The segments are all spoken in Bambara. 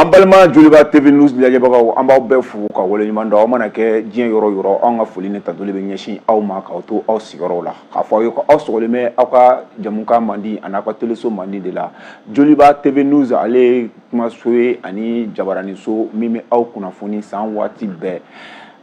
An balima joliba tv news lajɛbagaw an b'aw bɛɛ fo ka waleɲuman dɔn aw mana kɛ diɲɛ yɔrɔ yɔrɔ an ka foli ni tantoli bɛ ɲɛsin aw ma k'aw to aw sigiyɔrɔw la k'a fɔ aw ye ko aw sɔgɔlen bɛ aw ka jamukan mandi ani aw ka teleso mandi de la joliba tv news ale ye kumaso ye ani jabaraninso min bɛ aw kunnafoni san waati bɛɛ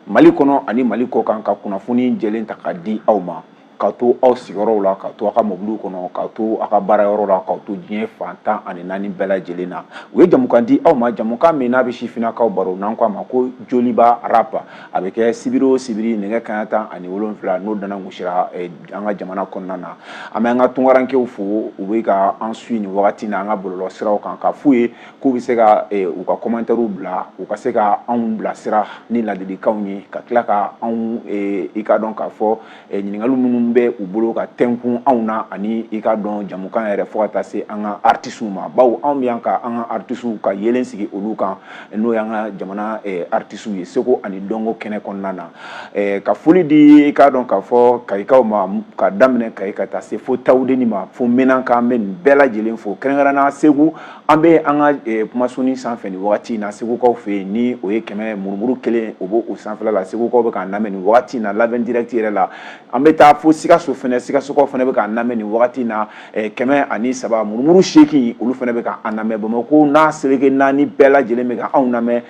mali kɔnɔ ani mali kɔ kan ka kunnafoni jɛlen ta k'a di aw ma k'aw to aw sigiyɔrɔw la k'aw to aw ka mobiliw kɔnɔ k'aw to aw ka baara yɔrɔ la k'aw to diɲɛ fan tan ani naani bɛɛ lajɛlen na u ye jamukan di aw ma jamukan min n'a bɛ sifinnakaw baro n'an ko a ma ko joliba rap a bɛ kɛ sibiri o sibiri nɛgɛ kanɲɛ tan ani wolonwula n'o tanan gosira eh, an ka jamana kɔnɔna na an bɛ an ka tunkarankew fo u bɛ ka an suivre nin wagati na an ka bɔlɔlɔ siraw kan ka f'u ye k'u bɛ se ka eh, u ka kɔmantɛriw bila u ka se ka anw bilasira ni ladilikanw ye ka tila ka anw eh, i ka dɔn k'a fɔ eh, ɲininkali minnu bɛ u bolo ka tɛnkun anw na ani i ka dɔn jamukan yɛrɛ fo ka taa se an ka artisiw ma bawo anw bɛ yan ka an ka artisiw ka yelen sigi olu kan n'o y'an ka jamana eh, artisiw ye seko ani dɔnko kɛnɛ kɔnɔna na eh, ka foli di i ka dɔn k'a fɔ kayikaw ma ka daminɛ kayi ka taa se fo tawudeni ma fo menaka an bɛ nin bɛɛ lajɛlen fo kɛrɛnkɛrɛnnenya segu An bɛ an ka kumasoni sanfɛ nin waati in na segukaw fɛ yen ni o ye kɛmɛ murumuru kelen o b'o sanfɛla la segukaw bɛ k'an lamɛn nin waati in na live direct yɛrɛ la an bɛ taa fo sikaso fana sikasokaw fana bɛ k'an lamɛn nin waati in na kɛmɛ ani saba murumuru seegin olu fana bɛ k'an lamɛn bamakɔ n'a seleke naani bɛɛ lajɛlen bɛ ka anw lamɛn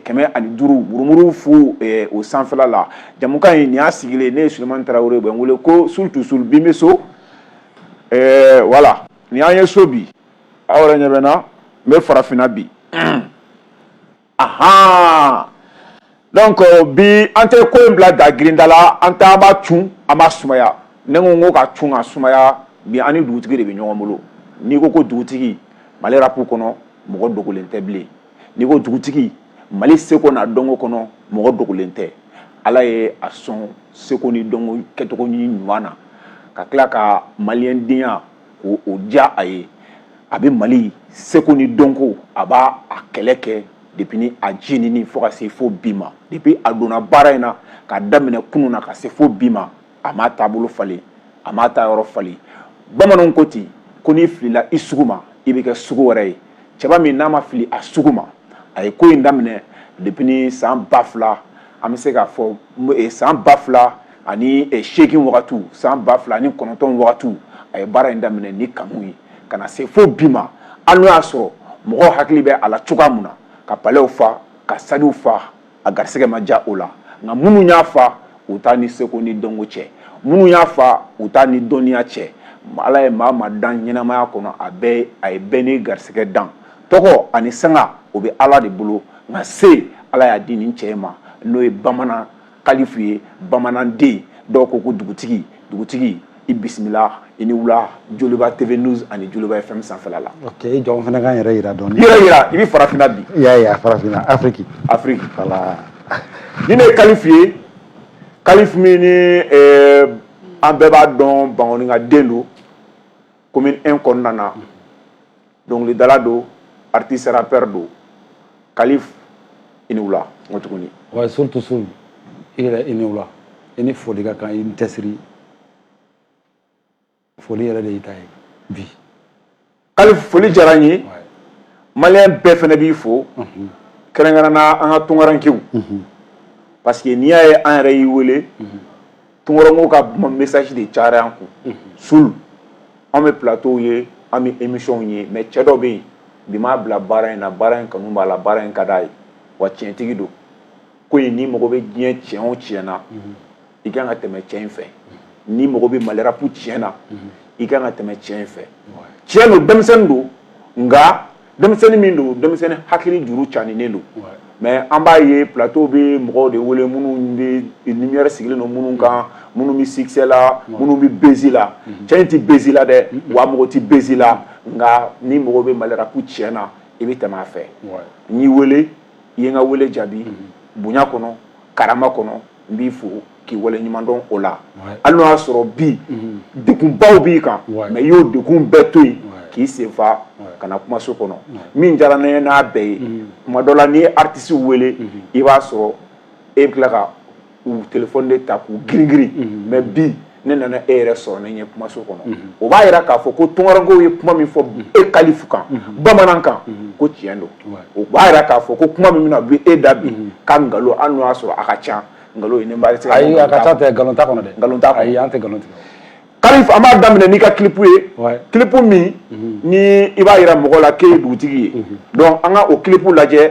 kɛmɛ ani duuru murumuru fu o sanfɛla la jamukan in nin y'a sigilen ne ye sulemani tarawele bɛ n wele ko soul to soul bi n bɛ so voilà nin y'an ye so bi aw yɛrɛ ɲɛ bɛ n na n bɛ farafinna bi ahan donc bi an tɛ ko in bila da girinda la an tɛ an b'a cun an b'a sumaya ne ko n ko ka cun ka sumaya bi an ni dugutigi de bɛ ɲɔgɔn bolo n'i ko ko dugutigi mali rapu kɔnɔ mɔgɔ dogolen tɛ bilen n'i ko dugutigi mali seko n'a dɔnko kɔnɔ mɔgɔ dogolen tɛ ala ye a sɔn seko ni dɔnko kɛcogo ɲuman na ka tila ka maliyɛndenya ko diya a ye a bɛ mali seko ni dɔnko a b'a a kɛlɛ kɛ depuis ni a jinini fo ka se fo bi ma depuis a donna baara in na k'a daminɛ kunun na ka se fo bi ma a m'a taabolo falen a m'a ta yɔrɔ falen bamananw ko ten ko n'i filila i sugu ma i bɛ kɛ sugu wɛrɛ ye cɛba min n'a ma fili a sugu ma a ye ko in daminɛ depuis ni san ba fila an bɛ se k'a fɔ san ba fila ani seegin wagati san ba fila ni kɔnɔntɔn wagati a ye baara in daminɛ ni kanu ye ka na se fo bi ma hali n'o y'a sɔrɔ mɔgɔ hakili bɛ a la cogoya min na ka palɛw fa ka stadew fa a garisɛgɛ ma diya o la nka minnu y'a fa u taa ni seko ni dɔnko cɛ minnu y'a fa u taa ni dɔnniya cɛ ala ye maa o maa dan ɲɛnamaya kɔnɔ a ye bɛɛ n'i garisɛgɛ dan tɔgɔ ani sanga o bɛ ala de bolo nka se ala y'a di nin cɛ ma n'o ye bamanan kalifu ye bamananden dɔw ko ko dugutigi dugutigi i bisimila i ni wula joliba tv news ani joliba fm sanfɛla la ok jɔn fana kan yɛrɛ yira dɔɔni yɛrɛ yira i bɛ farafinna bi y'a ye a farafinna afiriki afiriki voilà nin de ye kalifu ye kalifu min ni eh, an bɛɛ b'a dɔn bankoninkaden don commune 1 kɔnɔna na dɔnkilidala don artiste rappeur don Kalifu i ni wula n ko tuguni wa surtout su i yɛrɛ i ni wula i ni foli ka kan i ni cɛsiri foli yɛrɛ de y'i ta ye bi Kalifu foli diyara n ye maliyɛn bɛɛ fɛnɛ b'i fo mhm. kɛrɛnkɛrɛnna an ka tunkarankew mhm. parce que n'i y'a ye an yɛrɛ y'i wele mhm. Tunkarankew ka kuma message de cayara an kun, unhun, sul an bɛ plateau ye an bɛ émission ye mais cɛ dɔ bɛ yen bi m'a bila baara in na baara in kanu b'a la baara in ka d'a ye wa tiɲɛtigi don ko in n'i mago bɛ diɲɛ tiɲɛ o tiɲɛ na i ka kan ka tɛmɛ cɛ in fɛ n'i mago bɛ Mali rap tiɲɛ na i ka kan ka tɛmɛ cɛ in fɛ tiɲɛ don denmisɛnnin don nka denmisɛnnin min don denmisɛnnin hakili juru caaninen don mais an b'a ye plateau bɛ mɔgɔw de wele minnu bɛ lumière sigilen don minnu kan minnu bɛ succès la minnu bɛ buzz la cɛ in tɛ buzz la dɛ wa a mago tɛ buzz la nka n'i mago bɛ Mali rap tiɲɛ na i bɛ tɛmɛ a fɛ n y'i wele i ye n ka wele jaabi bonya kɔnɔ karama kɔnɔ n b'i fo k'i waleɲumandɔn o la hali n'o y'a sɔrɔ bi degunbaw b'i kan mais i y'o degun bɛɛ to yen k'i senfa ka na kumaso kɔnɔ min diyara ne ye n'a bɛɛ ye kuma dɔ la n'i ye artiste wele i b'a sɔrɔ e bɛ tila ka u téléphone de ta k'u giringirin mais bi ne nana e yɛrɛ sɔrɔ ne ɲɛ kumaso kɔnɔ o b'a yira k'a fɔ ko tunkarankew ye kuma min fɔ e kalifu kan bamanan kan ko tiɲɛ don o b'a yira k'a fɔ ko kuma min bɛna bi e da bi ka nkalon hali n'o y'a sɔrɔ a ka ca nkalon ye ne b'a se ayi a ka ca tɛ nkalon t'a kɔnɔ dɛ nkalon t'a ayi an tɛ nkalon tigɛ kalifu an b'a daminɛ n'i ka kilipu ye kilipu min ni i b'a yira mɔgɔ la k'e ye dugutigi ye donc an ka o kilipu lajɛ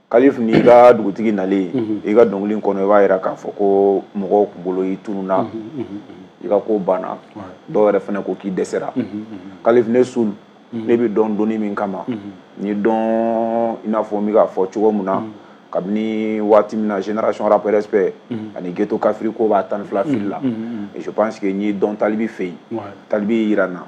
kalif ni i ka dugutigi nalen i ka dɔnkili kɔnɔ i b'a yira k'a fɔ ko mɔgɔw k'u bolo i tununa i ka ko banna dɔw yɛrɛ fana ko k'i dɛsɛra kalif ne seul ne b'i dɔn doni min kama n y'i dɔn i n'a fɔ n bɛ k'a fɔ cogo min na kabini waati min na génération rap respect ani ghetto kafiri ko b'a tan ni fila fili la je pense que n y'i dɔn talibi fɛ yen talibi y'i yira n na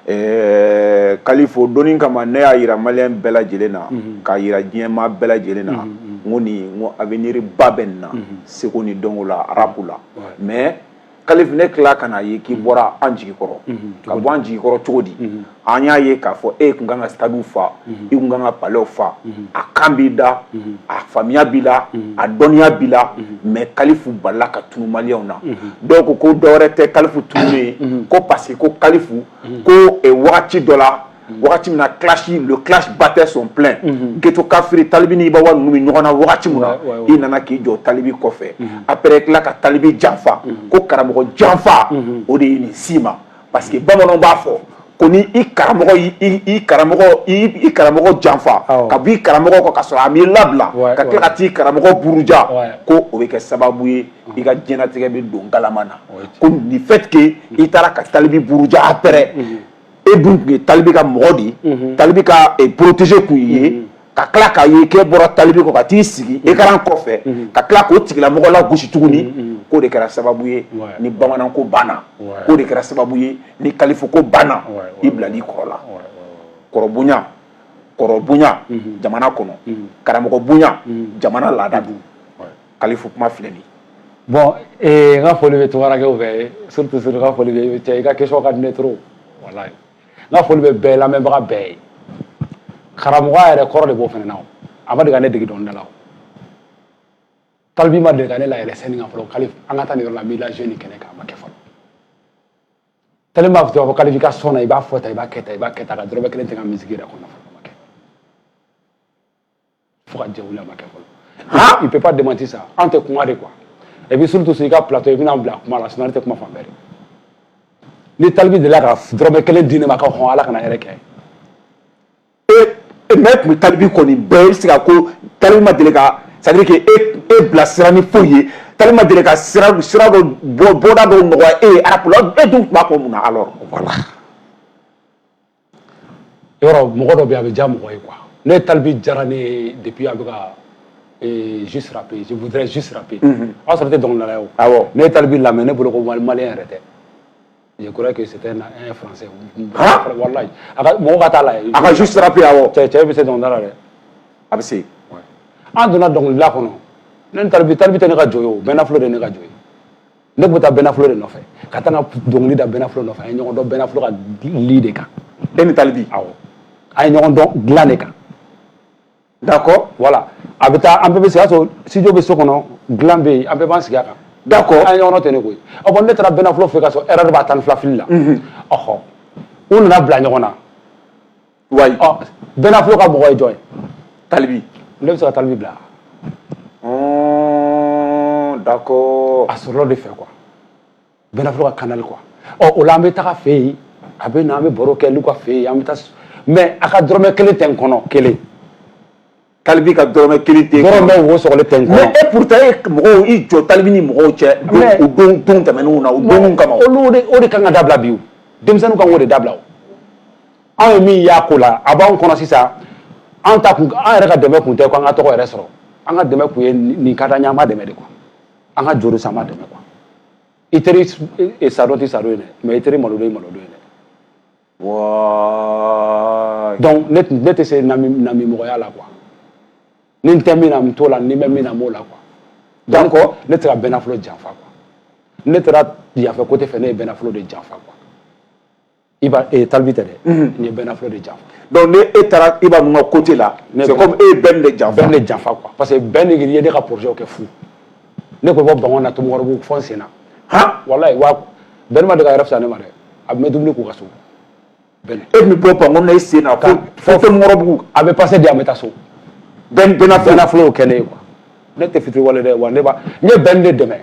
ɛɛ kalifo doni kama ne y'a yira maliyɛn bɛɛ lajɛlen na k'a yira diɲɛmaa bɛɛ lajɛlen na n ko nin n ko avenir ba bɛ nin na seko ni dɔnko la rap la mais kalifu ne tila ka n'a ye k'i bɔra an jigi kɔrɔ ka bɔ an jigi kɔrɔ cogo di an y'a ye k'a fɔ e kun kan ka stadiw fa mhm. i kun kan ka palɛw fa mhm. a kan b'i da mhm. a faamuya b'i la a dɔnniya b'i la mais kalifu balala ka tunu maliyɛnw na dɔw ko ko dɔwɛrɛ tɛ kalifu tununni ye ko parce que ko kalifu ko eh, wagati dɔ la wagati min na clash le clash battait son plein ghetto kafiri talibi ni iba one ninnu bɛ ɲɔgɔn na wagati min na i nana k'i jɔ talibi kɔfɛ après tila ka talibi janfa ko karamɔgɔ janfa o de ye nin s'i ma parce que bamananw b'a fɔ ko ni i karamɔgɔ i karamɔgɔ janfa ka b'i karamɔgɔ kɔ ka sɔrɔ a m'i labila ka tila ka t'i karamɔgɔ buruja ko o bɛ kɛ sababu ye i ka diɲɛlatigɛ bɛ don galama na ko le fait que i taara ka talibi buruja après e dun tun ye talibi ka mɔgɔ de ye talibi ka protégé kun ye ka tila k'a ye k'e bɔra talibi kɔ ka t'i sigi écran kɔfɛ ka tila k'o tigilamɔgɔ lagosi tuguni k'o de kɛra sababu ye ni bamananko banna k'o de kɛra sababu ye ni kalifoko banna i bilal'i kɔrɔ la kɔrɔbonya kɔrɔbonya jamana kɔnɔ karamɔgɔ bonya jamana laada dun kalifo kuma filɛ nin bon n ka foli bɛ tunkarankew fɛ surtout surtout n ka foli bɛ i ka question ka di ne trop walayi n ka foli bɛ bɛɛ lamɛnbaga bɛɛ ye karamɔgɔya yɛrɛ kɔrɔ de b'o fana na a ma deli ka ne dege dɔnkilida la talibi ma deli ka ne layɛlɛn scène kan fɔlɔ kalifu an ka taa nin yɔrɔ la n b'i lajouer nin kɛnɛ kan a ma kɛ fɔlɔ talibi m'a fɔ ko kalifu i ka son na i b'a fɔ tan i b'a kɛ tan i b'a kɛ tan a ka dɔrɔmɛ kelen tɛ n ka musique yɛrɛ kɔnɔ fɔlɔ fo ka diɲɛ wuli a ma kɛ fɔlɔ il peut pas démentir ça an tɛ kuma de quoi et puis surtout sur i ka plateau i bɛna n bila kuma la sinon ne tɛ kuma fan bɛɛ de ni talibi delila ka dɔrɔmɛ kelen di ne ma ko hɔn ala kana hɛrɛ kɛ n ye mais e tun bɛ talibi kɔ nin bɛɛ i bɛ se ka ko talibi ma deli ka c'est à dire que e e bilasira ni foyi ye talibi ma deli ka sira sira dɔ bɔ bɔda dɔw nɔgɔya e ye rap la e dun tun b'a kɔ mun na alors voilà. yɔrɔ mɔgɔ dɔ bɛ a bɛ diya mɔgɔ ye quoi ne talibi diyara ne ye depuis a bɛ ka juste rapper je voudrais juste rapper o y'a sɔrɔ ne tɛ dɔnkilidala ye o awɔ ne ye talibi lamɛn ne bolo ko maliyɛn yɛrɛ tɛ je crois que c'était un français walayi a ka mɔgɔ ka t'a lajɛ a ka juste rapper awɔ cɛ cɛ bɛ se dɔnkilida la dɛ a bɛ se an donna dɔnkilida kɔnɔ ne ni talibi talibi tɛ ne ka jɔ ye o bɛnaflo de ye ne ka jɔ ye ne bɛ taa bɛnaflo de nɔfɛ ka taa n ka dɔnkili da bɛnaflo nɔfɛ an ye ɲɔgɔn dɔn bɛnaflo ka lit de kan e ni talibi awɔ an ye ɲɔgɔn dɔn dilan de kan d'accord voilà a bɛ taa an bɛɛ bɛ sigi a sɔrɔ studio bɛ so kɔnɔ dilan bɛ yen an bɛɛ b'an sigi a kan d'accord an ye ɲɔgɔn dɔn ten de koyi ɔ bon ne taara bɛnaflo fɛ ka sɔrɔ RR b'a tan ni fila fili la ɔhɔ u nana bila ɲɔgɔn na wa bɛnaflo ka mɔgɔ ye jɔn ye talibi ne bɛ se ka talibi bila d'accord a sɔrɔla o de fɛ quoi bɛnaflo ka canal quoi ɔ o la an bɛ taga fɛ yen a bɛ na an bɛ baro kɛ olu ka fɛ yen an bɛ taa mais a ka dɔrɔmɛ kelen tɛ n kɔnɔ kelen talibi ka dɔrɔmɛ kelen tɛ dɔrɔmɛ wo sɔgɔlen tɛ n kɔnɔ mais et pourtant e mɔgɔw i jɔ talibi ni mɔgɔw cɛ o don don tɛmɛnenw na o donw kama olu de o de kan ka dabila bi o denmisɛnninw kan k'o de dabila o anw ye min y'a ko la a b'anw kɔnɔ sisan an ta kun an yɛrɛ ka dɛmɛ kun tɛ ko an ka tɔgɔ yɛrɛ sɔrɔ an ka dɛmɛ kun ye nin ka d'an ye an b'a dɛmɛ de quoi an ka juru san an b'a dɛmɛ quoi i teri sadon tɛ sadon ye dɛ mais i teri malodon ye malodon ye dɛ donc ne tɛ se namimɔgɔya la quoi ni n tɛ min na n t'o la ni n bɛ min na n b'o la quoi donc ne taara bɛnaflo janfa quoi ne taara yanfɛ côté fɛ ne ye bɛnaflo de janfa quoi talibi tɛ dɛ n ye bɛnaflo de janfa donc e taara iba ninnu ka côté la e bɛn de jan janfa quoi parce que bɛn de ye ne ka projet kɛ fu ne ko bɔ bankoni na ntomikɔrɔbugu fo n sen na han walayi wa bɛn ma deli k'a yɛrɛ fisa ne ma dɛ an bɛ dumuni k'u ka so bɛn e bɛ bɔ bankoni na i sen na fo fo fɛn ntomikɔrɔbugu a bɛ pase di an bɛ taa so bɛn bɛnaflo y'o kɛ ne ye quoi ne tɛ fitiriwale dɛ wa ne ba n ye bɛn de dɛmɛ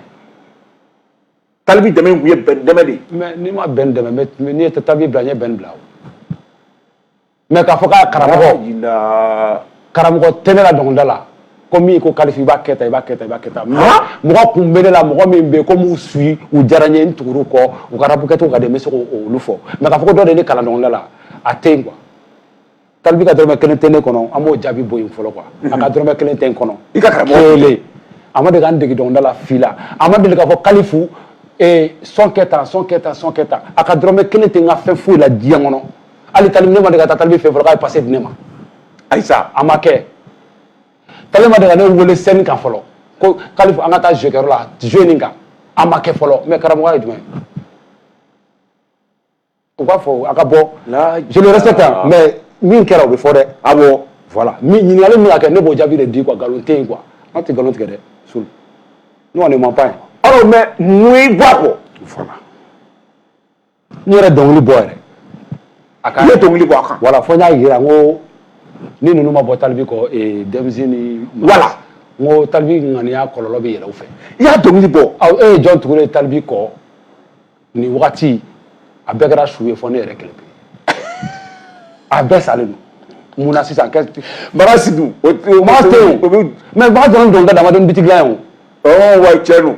talibi dɛmɛ in kun ye bɛn dɛmɛ de ye mais ni n ma bɛn dɛmɛ ni n ye talibi bila n ye bɛn bila o mais k'a fɔ k'a karamɔgɔ karamɔgɔ tɛ ne la dɔnkilida la ko min ko kalifu i b'a kɛ tan i b'a kɛ tan i b'a kɛ tan mɔgɔ kun bɛ ne la mɔgɔ min bɛ yen ko n b'u suivi u diyara n ye n tugur'u kɔ u ka rapu kɛcogo ka di n bɛ se k'olu fɔ mais k'a fɔ ko dɔ de ye ne kalan dɔnkilida la a tɛ yen quoi talibi ka dɔrɔmɛ kelen tɛ ne kɔnɔ an b'o jaabi bɔ yen fɔlɔ quoi a ka dɔrɔmɛ kelen tɛ n kɔnɔ i ka karamɔgɔ kelen a ma deli ka n dege dɔnkilida la fi la a ma deli k'a fɔ kalifu sɔn kɛ tan sɔn kɛ tan sɔn kɛ tan a ka dɔrɔmɛ kelen tɛ n ka fɛn foyi la diɲɛ kɔnɔ hali tali ne ma deli ka taa talibi fɛ fɔlɔ k'a ye pase di ne ma ayisa a ma kɛ tali ma deli ka ne wele sɛni kan fɔlɔ ko kalifu an ka taa jeu kɛyɔrɔ la jeu nin kan a ma kɛ fɔlɔ mais karamɔgɔ ye jumɛn ye u b'a fɔ a ka bɔ je le respecte mais min kɛra o bɛ fɔ dɛ a bɔ voilà ɲininkali min ka kɛ ne b'o jaabi de di quoi nkalon tɛ yen quoi an tɛ nkalon tigɛ dɛ sulu nous on ne ment pas alors mais mun y'i bɔ a kɔ voilà n yɛrɛ dɔnkili bɔ yɛrɛ a kan i ye dɔnkili bɔ a kan voilà fo n y'a yira n ko ni ninnu ma bɔ talibi kɔ eh, denmisɛnnin voilà n ko talibi ŋaniya kɔlɔlɔ bɛ yɛlɛ u fɛ i y'a dɔnkili bɔ awɔ e ye jɔn tugulen talibi kɔ nin wagati a bɛɛ kɛra su ye fo ne yɛrɛ kelen pe a bɛɛ salen don mun na sisan kɛ mara sidu o o ma te o bɛ mɛ b'a dɔn dɔnkili dama don bitigi la yan o ɔ wa cɛ don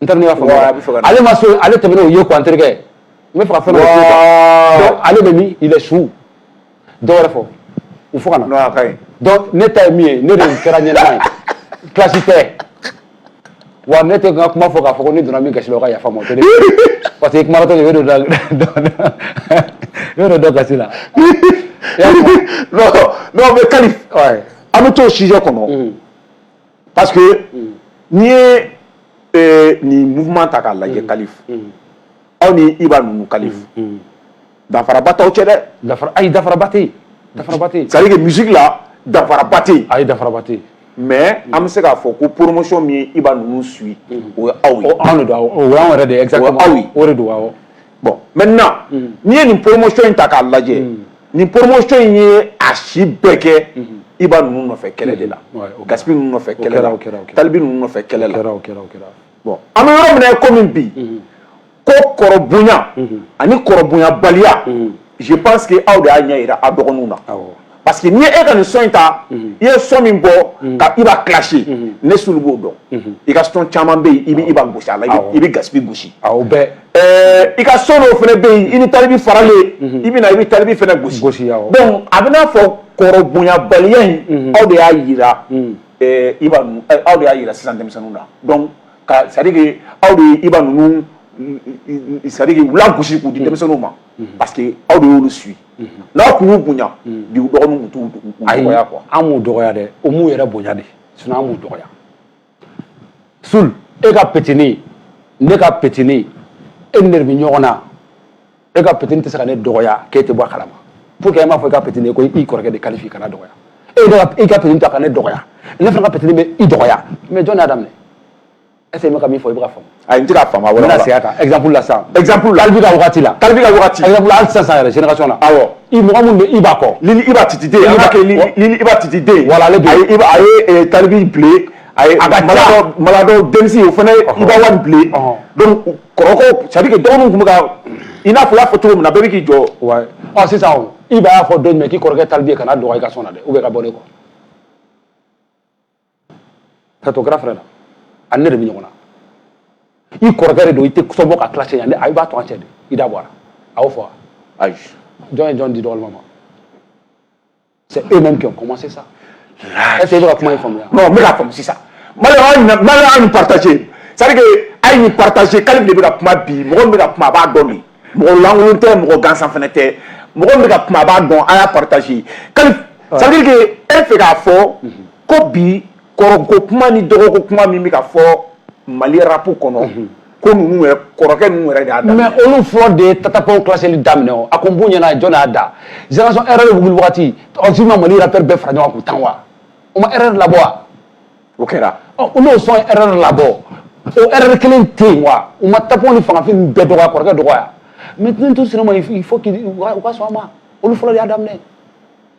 n teri ne y'a faamu ale ma so ale tɛmɛn'o ye quoi n terikɛ n bɛ fɛ ka fɛn dɔ fɔ ale bɛ min il est soûl dɔ wɛrɛ fɔ u fo ka na non a ka ɲi donc ne ta ye min ye ne de kɛra ɲɛnama ye clash tɛ wa ne tɛ n ka kuma fɔ k'a fɔ ko ne donna min gasi la o ka yafa n ma o tɛ ne parce que kumatɔ de bɛ don dɔ i bɛ don dɔ gasi la non non mais kalif an bɛ t'o sujet kɔnɔ parce que n'i ye nin mouvement ta k'a lajɛ kalif aw ni iba ninnu kalif danfaraba t'aw cɛ dɛ danfa ayi danfaraba tɛ yen c'est à dire que musique la danfaraba tɛ yen ayi danfaraba tɛ yen mais an bɛ se k'a fɔ ko poromosɔn min ye iba ninnu suit o ye aw ye anw don anw yɛrɛ de aw o de don awɔ bon maintenant n'i ye nin poromosɔn in ta k'a lajɛ mm. nin poromosɔn in ye a si bɛɛ kɛ mm-hmm. iba ninnu nɔfɛ kɛlɛ de la mm-hmm. gaspi ninnu nɔfɛ kɛlɛ la talibi ninnu nɔfɛ kɛlɛ la bon an bɛ yɔrɔ min na ye komi bi mm-hmm. ko kɔrɔbonya ani kɔrɔbonyabaliya je pense que aw de y'a ɲɛ jira aw dɔgɔninw na parce que n'i ye e ka nin son in ta i ye son min bɔ ka iba clasher ne sulu b'o dɔn i ka son caman bɛ yen i bɛ iba gosi a la i bɛ gaspi gosi o bɛɛ ɛɛ i ka son dɔw fana bɛ yen i ni talibi faralen i bɛ na i bɛ talibi fana gosi gosi donc a bɛ n'a fɔ kɔrɔbonyabaliya in aw de y'a jira iba aw de y'a jira sisan denmisɛnninw na donc c'est à dire que aw de ye iba ninnu c'est à dire que u lagosi k'u di denmisɛnninw ma parce que aw de y'olu suit n'aw tun y'u bonya bi u dɔgɔninw tun t'u dɔgɔya quoi an m'u dɔgɔya dɛ u m'u yɛrɛ bonya de sinon an m'u dɔgɔya sul e ka petini ne ka petini e ni ne de bɛ ɲɔgɔn na e ka petini tɛ se ka ne dɔgɔya k'e tɛ bɔ a kalama pour que e m'a fɔ i ka petini ye ko i kɔrɔkɛ de kalifi kan'a dɔgɔya e de y'i ka petini ta ka ne dɔgɔya ne fana ka petini bɛ i dɔgɔya mais jɔn y'a daminɛ est ce que n bɛ ka min fɔ i bɛ ka faamu. ayi n tɛ ka faamu a wɛrɛ la. n bɛna segin a kan exemple la sisan. exemple la Talibi ka wagati la. Talibi ka wagati. exemple la hali sisan sisan yɛrɛ génération na. awɔ. i mɔgɔ minnu bɛ Iba kɔ. Lil Iba Titi den. an k'a kɛ Lil Iba Titi den. voilà ale de. a ye Iba a ye Talibi bilen. a ye maladɔ maladɔ denmisɛn o fana Iba One bilen. donc kɔrɔkɛw c'est à dire que dɔgɔninw tun bɛ ka i n'a fɔ i y'a fɔ cogo min na bɛɛ bɛ k'i jɔ. wayi ɔ sisan o Iba y'a fɔ don jumɛn k'i kɔrɔkɛ Talibi ye kana dɔgɔya i ka son na dɛ ou bien ka bɔ ne kɔ. K'a to grand frère la ani ne de bɛ ɲɔgɔn na i kɔrɔkɛ de don i tɛ son bɔ k'a clasher yan i b'a to an cɛ de i da bɔ a la a y'o fɔ wa ayi jɔn ye jo di dɔgɔnin ma mais c'est eux mêmes qui ont commencé ça est ce que i bɛ ka kuma in faamuya non n bɛ k'a faamu sisan maliyɛnw a ye nin partager c'est à dire que a ye nin partager Kalif de bɛ ka kuma bi mɔgɔ min bɛ ka kuma a b'a dɔn bi mɔgɔ lankolon tɛ mɔgɔ gansan fana tɛ mɔgɔ min bɛ ka kuma a b'a dɔn a y'a partager Kalif c'est à dire que e bɛ fɛ k'a fɔ ko bi kɔrɔko kuma ni dɔgɔko kuma min bɛ ka fɔ Mali rap kɔnɔ ko ninnu kɔrɔkɛ ninnu yɛrɛ y'a mɛ olu fɔlɔ de ye Tata Pound clasheli daminɛ o a ko n b'u ɲɛna jɔn y'a da génération RR wuli waati u ma Mali rappeur bɛɛ fara ɲɔgɔn k'u tan wa o ma RR labɔ wa o kɛra n'o sɔn RR labɔ o RR kelen tɛ yen wa u ma Tata Pound ni Fanga Fing bɛɛ dɔgɔya kɔrɔkɛ dɔgɔya maintenant to sinama faut que u ka sɔn a ma olu fɔlɔ y'a daminɛ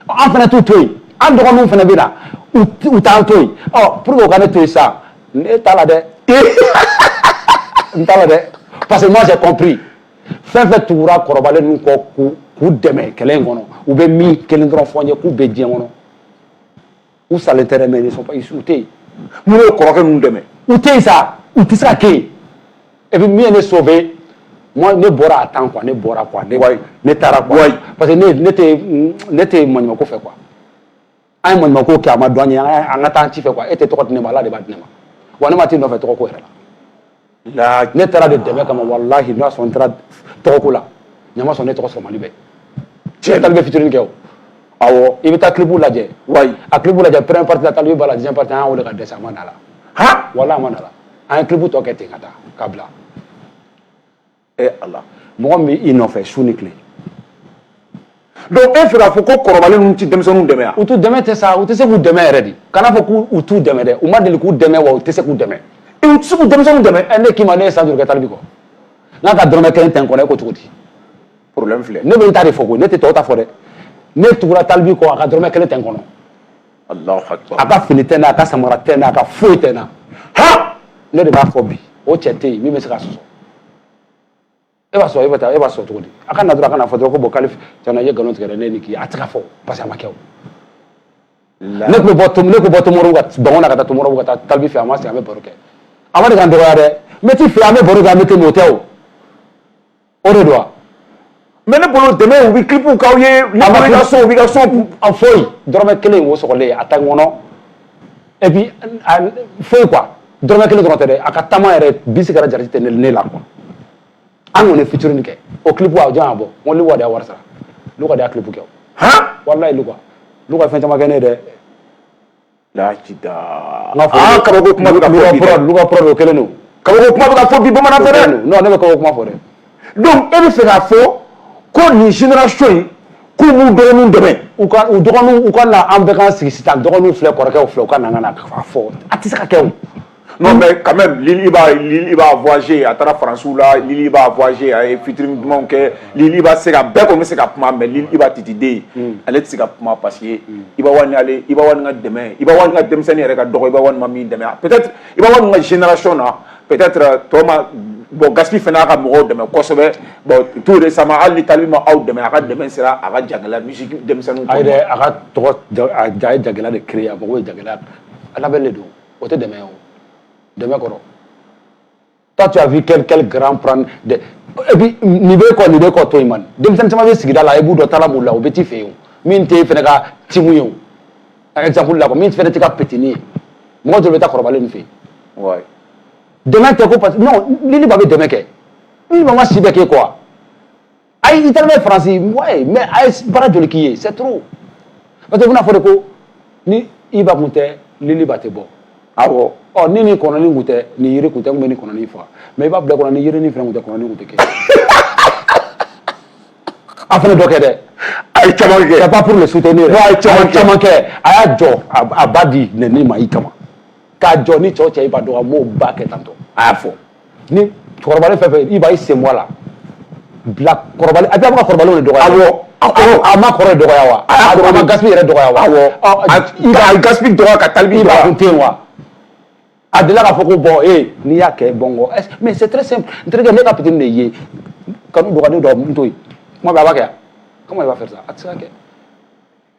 an fana t'u to yen an dɔgɔninw fana bɛ na u t'an to yen ɔ pour que u ka ne to yen sisan ne t'a la dɛ n t'a la dɛ parce que moi j'ai compris fɛn fɛn tugura kɔrɔbalen ninnu kɔ k'u dɛmɛ kɛlɛ in kɔnɔ u bɛ min kelen dɔrɔn fɔ n ye k'u bɛ diɲɛ kɔnɔ u salen tɛ dɛ mais ils ne sont pas u tɛ yen minnu ye kɔrɔkɛ ninnu dɛmɛ u tɛ yen sa u tɛ se ka kɛ yen et puis min ye ne sauver moi ne bɔra à temps quoi ne bɔra quoi ne ne taara quoi parce que ne ne tɛ ne tɛ maɲumako fɛ quoi an ye maɲumako kɛ a m'a dɔn an ye an ka taa an ci fɛ quoi e tɛ tɔgɔ di ne ma ala de b'a di ne ma wa ne ma t'i nɔfɛ tɔgɔ ko yɛrɛ la La ne taara de dɛmɛ kama walahi n'a sɔrɔ n taara tɔgɔko la ɲama sɔn ne tɔgɔ sɔrɔ Mali bɛɛ cɛ Talibi featuring kɛ awɔ i bɛ taa clip lajɛ wa a clip lajɛ première partie la Talibi b'a la deuxième partie an y'a weele ka dɛsɛ a ma na a la han walahi a ma na a la an ye clip tɔ kɛ ten ka taa k'a bila e ala mɔgɔ min bɛ i nɔfɛ su ni tile donc e fɛ k'a fɔ ko kɔrɔbalen ninnu tɛ denmisɛnninw dɛmɛ wa u t'u dɛmɛ tɛ sa u tɛ se k'u dɛmɛ yɛrɛ de kana fɔ k'u t'u dɛmɛ dɛ u ma deli k'u dɛmɛ wa u tɛ se k'u dɛmɛ e u tɛ se ka denmisɛnninw dɛmɛ ɛ ne k'i ma ne ye san joli kɛ Talibi kɔ n'a ka dɔrɔmɛ kelen tɛ n kɔnɔ e ko cogo di problème filɛ ne bɛ n ta de fɔ koyi ne tɛ tɔw ta fɔ dɛ ne tugura Talibi kɔ a ka dɔrɔmɛ kelen tɛ n kɔnɔ a ka fini tɛ n na a ka samara tɛ n na a ka foyi tɛ n na han ne de b'a fɔ bi o cɛ tɛ yen min bɛ se k'a sɔsɔ e b'a sɔrɔ e bɛ taa e b'a sɔrɔ cogo di a ka na dɔrɔn a ka na fɔ dɔrɔn ko bon k'ale tiɲɛna i ye nkalon tigɛ dɛ ne ni k'i a tɛ ka fɔ parce que a ma kɛ o ne tun bɛ bɔ ne tun bɛ bɔ tomoro ka bɔngɔn na ka taa tomoro ka taa Tal B fɛ an b'an sigi an bɛ baro kɛ a ma deli ka n dɔgɔya dɛ n bɛ t'i fɛ an bɛ baro kɛ an bɛ tɛmɛ o tɛ o o de don mais ne bolo dɛmɛ u bɛ clips k'aw ye u ka so u bɛ ka so a foyi dɔrɔmɛ kelen wo sɔgɔlen a ta kɔnɔ et puis foyi quoi dɔrɔmɛ kelen dɔrɔn tɛ dɛ a ka taama yɛrɛ bisi kɛra jarati tɛ ne la quoi an kɔni ye featuring kɛ o clip a jɔn y'a bɔ n ko Luka de y'a wari sara Luka de y'a clip kɛ o walayi Luka Luka ye fɛn caman kɛ ne ye dɛ Luka Prod o kelen don kabako kuma bɛ ka fɔ bi bamanan fɛ non ne bɛ kabako kuma fɔ dɛ donc e bɛ fɛ k'a fɔ ko nin génération in k'u b'u dɔgɔninw dɛmɛ u ka u dɔgɔninw u ka na an bɛɛ k'an sigi sisan dɔgɔninw filɛ kɔrɔkɛw filɛ u ka na an ka n'a fɔ a tɛ se ka kɛ o Non mais quand même Lil Iba Lil Iba voyager a taara France la Lil Iba voyager a ye featuring dumanw kɛ Lil Iba se ka bɛɛ kɔni bɛ se ka kuma mais Lil Iba Titiden hmm. ale tɛ se ka kuma parce que hmm. Iba One ale Iba One ka dɛmɛ Iba One ka denmisɛnnin yɛrɛ ka dɔgɔ Iba One ma min dɛmɛ peut-être Iba One ka génération na peut-être euh, tɔ ma bon Gaspi fana y'a ka mɔgɔw dɛmɛ kosɛbɛ bon tout récemment hali ni Tal B ma aw dɛmɛ a ka dɛmɛ sera a ka jagɛlɛya musique denmisɛnninw. A yɛrɛ a ka tɔgɔ a ye jagɛlɛya de créer a mago bɛ jagɛlɛya la a labɛnnen don. o tɛ dɛmɛ o dɛmɛ kɔrɔ toi tu as vu quel quel grand prendre de et puis nin bɛɛ kɔ nin bɛɛ kɔ to yen man denmisɛnnin caman bɛ sigida la i b'u dɔn talent b'u la u bɛ t'i fɛ yen o min tɛ fana ka team ye o exemple la quoi min fana t'i ka petini ye mɔgɔ dɔw bɛ taa kɔrɔbalen nin fɛ yen ouais dɛmɛ tɛ ko parce que non Lil Iba bɛ dɛmɛ kɛ Lil Iba ma si bɛɛ k'e kɔ wa ayi i taara n'a ye faransi ouais mais a ye baara joli k'i ye c'est trop n'o tɛ i bɛna fɔ de ko ni Iba kun tɛ Lil Iba tɛ bɔ awɔ ɔ ni nin kɔnɔni kun tɛ ni yiri kun tɛ n kun bɛ nin kɔnɔni faga mais i b'a bila kɔnɔ ni yiri ni fɛn kun tɛ kɔnɔni kun tɛ kɛ a fana dɔ kɛ dɛ a ye caman kɛ c'est pas pour le soutenir a ye caman kɛ a y'a jɔ a ba di nɛni ma i kama k'a jɔ ni cɛw cɛ i b'a dɔn a b'o ba kɛ tantôt a y'a fɔ ni kɔrɔbalen fɛn fɛn Iba i sen bɔ a la bilakoro a bɛ ka kɔrɔ de dɔgɔya a ma kɔrɔ dɔgɔya wa a ma Gaspi yɛrɛ dɔgɔya wa a ye Gaspi dɔgɔya ka Tal B dɔgɔya kun tɛ wa a delila k'a fɔ ko bon e n'i y'a kɛ bon ko mais c'est très simple n terikɛ ne ka petini de ye kanu dɔgɔnin dɔ n to yen kuma b'a kɛ comment il va faire ça a tɛ se ka kɛ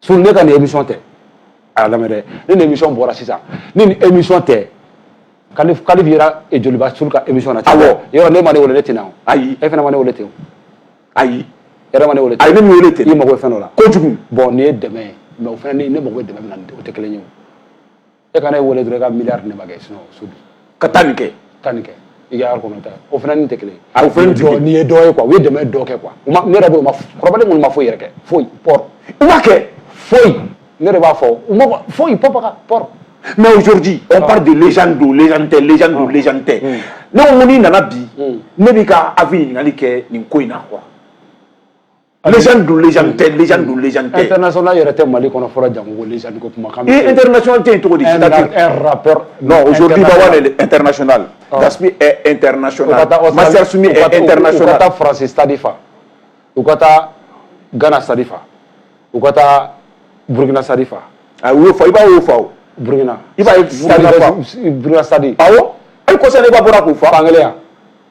Sul ne ka nin émission tɛ a lamɛn dɛ ne ni émission bɔra sisan ni nin émission tɛ kalif kalif yera e joliba sul ka émission na awɔ yɔrɔ ne ma ne wele ne tɛna o ayi e fana ma ne wele ten o ayi e yɛrɛ ma ne wele ten ayi ne m'i wele ten i mago bɛ fɛn dɔ la kojugu bon nin ye dɛmɛ ye mais o fana ne mago bɛ dɛmɛ min na o tɛ kelen ye o e kana ne wele dɔrɔn i ka miliyari di ne ma kɛ sinon so bi ka taa nin kɛ taa nin kɛ i ka yari kɔnɔ ta o fana nin tɛ kelen ye o fana nin tɛ kelen nin ye dɔ ye quoi u ye dɛmɛ dɔ kɛ quoi ne yɛrɛ bolo ma kɔrɔbalen minnu ma foyi yɛrɛ kɛ foyi pɔri u ma kɛ foyi ne de b'a fɔ u ma foyi pɔpaka pɔri mais aujourd'hui on parle de légende don légende tɛ légende don ah. légende tɛ hmm. ne ko n'i nana bi hmm. ne b'i ka avis ɲininkali kɛ nin ko in na quoi Légende don légende tɛ légende don légende tɛ international yɛrɛ tɛ Mali kɔnɔ fɔlɔ jango ko légende ko kuma kan ee international tɛ yen cogo di un rappeur non aujourd'hui Iba One est international Gaspi est international Master Soumy est international u ka taa France stade fa u ka taa Ghana stade fa u ka taa Burkina stade fa a y'o fa Iba y'o fa o Burkina Iba ye Burkina stade awɔ hali kɔsa in na Iba bɔra k'o fa fankelen ya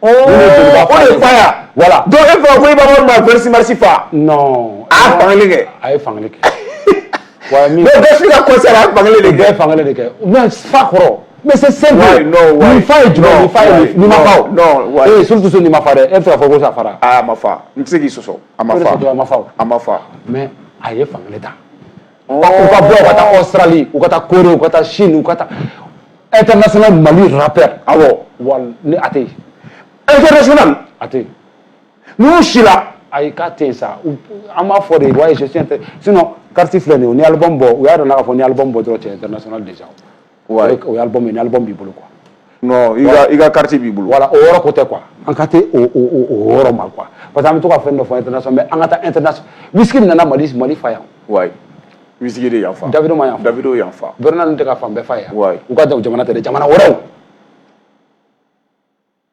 O de fa yan wala dɔw e fa ko e b'a ma vsi marisi fa a fan kɛ a ye fan kɛ wa min bɛsi ka ko sera a fan de bɛɛ fan de kɛ mɛ fa kɔrɔ mɛ se sen fa ye jumɛn fa ye ni ma fa ee surutu se ni ma fa dɛ e fɛ fɔ ko sa fara a ma fa n tɛ se k'i sɔsɔ a ma a ma fa mɛ a ye fan ta U ka bɔ ka taa sarali u ka taa koro u ka taa sin u ka taa e tɛ nasɔnna mali arap aw ni a tɛ e tɛina a tɛ nu si ayi ka tɛ sa an b'a fɔ de waati si tɛ sin kari filɛ nin ni aliban bɔ u y'a dɔn n'a fɔ ni aliban bɔ dɔrɔn cɛ tɛ de o ye album ye ni album b'i bolo quoi non i ka carte b'i bolo voilà o yɔrɔ ko tɛ quoi an ka tɛ o yɔrɔ ma quoi parce que an bɛ to ka fɛn dɔ fɔ international mais an ka taa international Wizkid nana mali mali fa yan ouais Wizkid de yan fa Davido ma yan fa Davido yan fa Burna ninnu tɛ ka fan bɛɛ fa yan ouais u ka jamana tɛ dɛ jamana wɛrɛw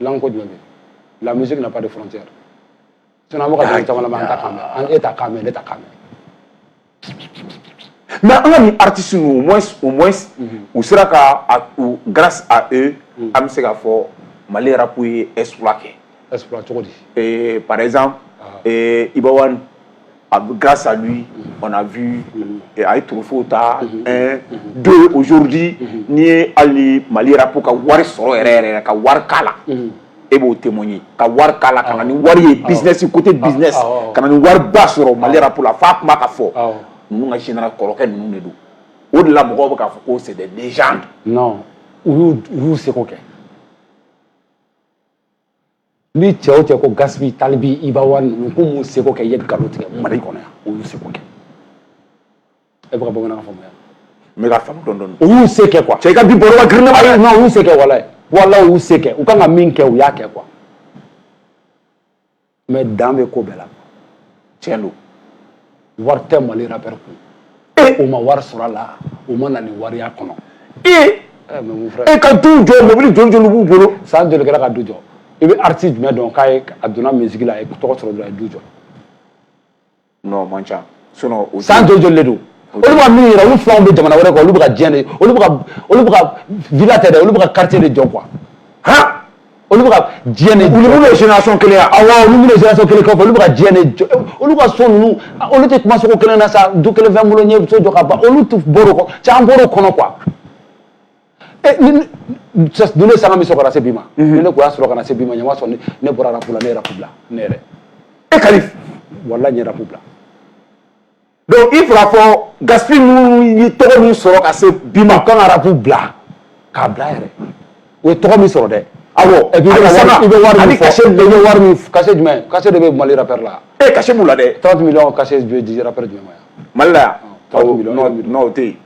langue ko jumɛn bɛ la musique n'a pas de frontière sinon an bɛ ka dɔnkili caman lamɛn an t'a kan mɛn an e t'a kan mɛn ne t'a kan mɛn mais an ka nin artiste ninnu au moins au moins u sera ka a- u- grâce à eux an bɛ se k'a fɔ mali rap ye exploit kɛ exploit cogo di Eh, par exemple eh, Iba One A bɛ gasa n a bi a ye tufu ta don ozodi n'i ye hali mali ko ka wari sɔrɔ yɛrɛ yɛrɛ ka wari la e b'o te ye ka wari la ka ni wari ye binzsi ko tɛ binz ka ni wari ba sɔrɔ mali a fa tun ka fɔ n ka sin kɔrɔkɛ ninnu de don o de la mɔgɔw bɛ k'a fɔ ko sɛbɛn z u y'u segu kɛ ni cɛ o cɛ ko Gaspi Tal B Iba One ninnu k'u m'u seko kɛ i ye nkalon tigɛ mali kɔnɔ yan u y'u seko kɛ e bɛ ka bamanankan faamuya n bɛ ka faamu dɔɔni dɔɔni u y'u se kɛ quoi cɛ i ka bi baro ka girin ne ma dɛ non u y'u se kɛ walayi walayi u y'u se kɛ u kan ka min kɛ u y'a kɛ quoi mais dan bɛ ko bɛɛ la tiɲɛ don wari tɛ mali rappeur kun e u ma wari sɔrɔ a la u ma na ni wari y'a kɔnɔ e e ka du jɔ mobili joli joli b'u bolo san joli kɛra ka du jɔ i bɛ artiste jumɛn dɔn k'a ye a donna musique la a ye tɔgɔ sɔrɔ dɔrɔn a ye du jɔ non man ca sinon san joli joli de don olu bɛ min yɛrɛ olu filanw bɛ jamana wɛrɛ kan olu bɛ ka diɲɛ de olu bɛ ka olu bɛ ka villa tɛ dɛ olu bɛ ka quartier de jɔ quoi han olu bɛ ka diɲɛ de olu minnu ye génération kelen ye awɔ olu minnu ye génération kelen kɔfɛ olu bɛ ka diɲɛ de jɔ olu ka so ninnu olu tɛ kuma so ko kelen na sa du kelen bɛ n bolo n ye so jɔ ka ban olu tun bɔr'o kɔnɔ caman bɔr'o kɔnɔ quoi e ninnu ye sanga min sɔrɔ ka na se bi ma ni ne tun y'a sɔrɔ ka na se bi ma ɲama sɔrɔ ne bɔra rap la ne ye rap bila ne yɛrɛ e Kalif walayi n ye rap bila donc il faudra fɔ Gaspi ninnu ye tɔgɔ min sɔrɔ ka se bi ma u kan ka rap bila k'a bila yɛrɛ u ye tɔgɔ min sɔrɔ dɛ awɔ et puis i bɛ wari min fɔ i bɛ wari min cachet jumɛn cachet de bɛ mali rappeur la ee cachet b'u la dɛ 30 millions cachet bɛ di rappeur jumɛn ma yan mali la yan 30 millions non o tɛ yen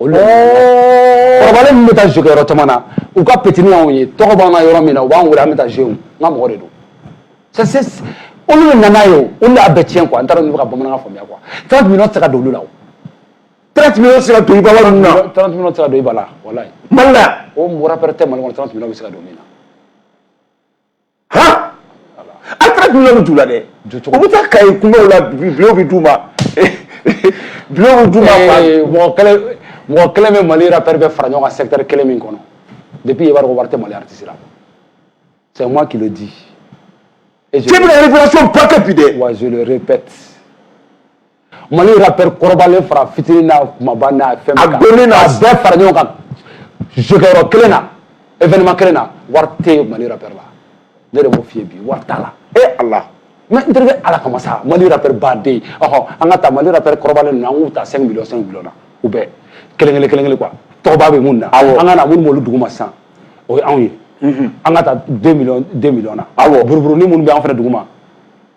olu kɔrɔbalen min bɛ taa jeu kɛ yɔrɔ caman na u ka petini y'anw ye tɔgɔ b'an na yɔrɔ min na u b'an wele an bɛ taa jouer n ka mɔgɔ de don c'est c'est olu de nana ye o olu de y'a bɛɛ tiɲɛ quoi n t'a dɔn n'i bɛ ka bamanankan faamuya quoi 30 millions tɛ se ka don olu la o 30 millions tɛ se ka don Iba One ninnu na 30 millions tɛ se ka don Iba la walayi mali la o rappeur tɛ mali kɔnɔ 30 millions bɛ se ka don min na han a 30 millions bɛ don u la dɛ u bɛ taa Kayi kungow la millions bɛ d'u ma millions bɛ d'u ma eh, mɔgɔ kelen mɔgɔ kelen bɛ mali rappeur bɛɛ fara ɲɔgɔn kan secteur kelen min kɔnɔ depuis i b'a dɔn ko wari tɛ mali artiste la c'est moi qui le dis cɛ bɛ ka révélation ba kɛ bi dɛ ouais je le répète Mali rappeur kɔrɔbalen fara fitinin n'a kunbaba n'a fɛn bɛɛ kan, a dɔnni n'a, a bɛɛ fara ɲɔgɔn kan jɔyɔrɔ kelen na événement kelen na wari tɛ Mali rappeur la ne de b'o f'i ye bi wari t'a la e Ala mais n terikɛ Ala kama sa Mali rappeur baden ɔhɔ an ka taa Mali rappeur kɔrɔbalen ninnu an k'u ta 5 millions 5 millions na u bɛɛ kelen kelen kelen kelen quoi tɔgɔba bɛ minnu na awɔ an ka na minnu b'olu duguma sisan o ye anw ye an ka taa 2 millions 2 millions na awɔ buruburunin minnu bɛ an fana duguma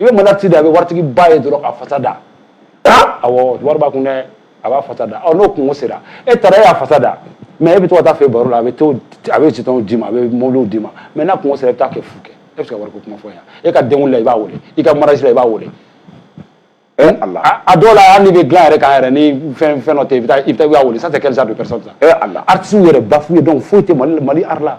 i bɛ mana ci da a bɛ waritigi ba ye dɔrɔn a fasa da awɔ wari b'a kun dɛ a b'a fasa da ɔ n'o kunko sera e taara e y'a fasa da mais e bɛ to ka t'a fɛ baro la a bɛ to a bɛ jetonw d'i ma a bɛ mobiliw d'i ma mais n'a kunko sera i bɛ t'a kɛ fu kɛ e bɛ se ka wariko kuma fɔ yan e ka denkun na i b'a wele i ka mariage la i b'a wele Eh, a dɔw la hali n'i bɛ dilan yɛrɛ kan yɛrɛ ni fɛn fɛn dɔ tɛ i bɛ taa i bɛ taa i b'a wele ça c'est quel genre de personne ça eh, artiste yɛrɛ bafoué donc foyi tɛ mali mali art la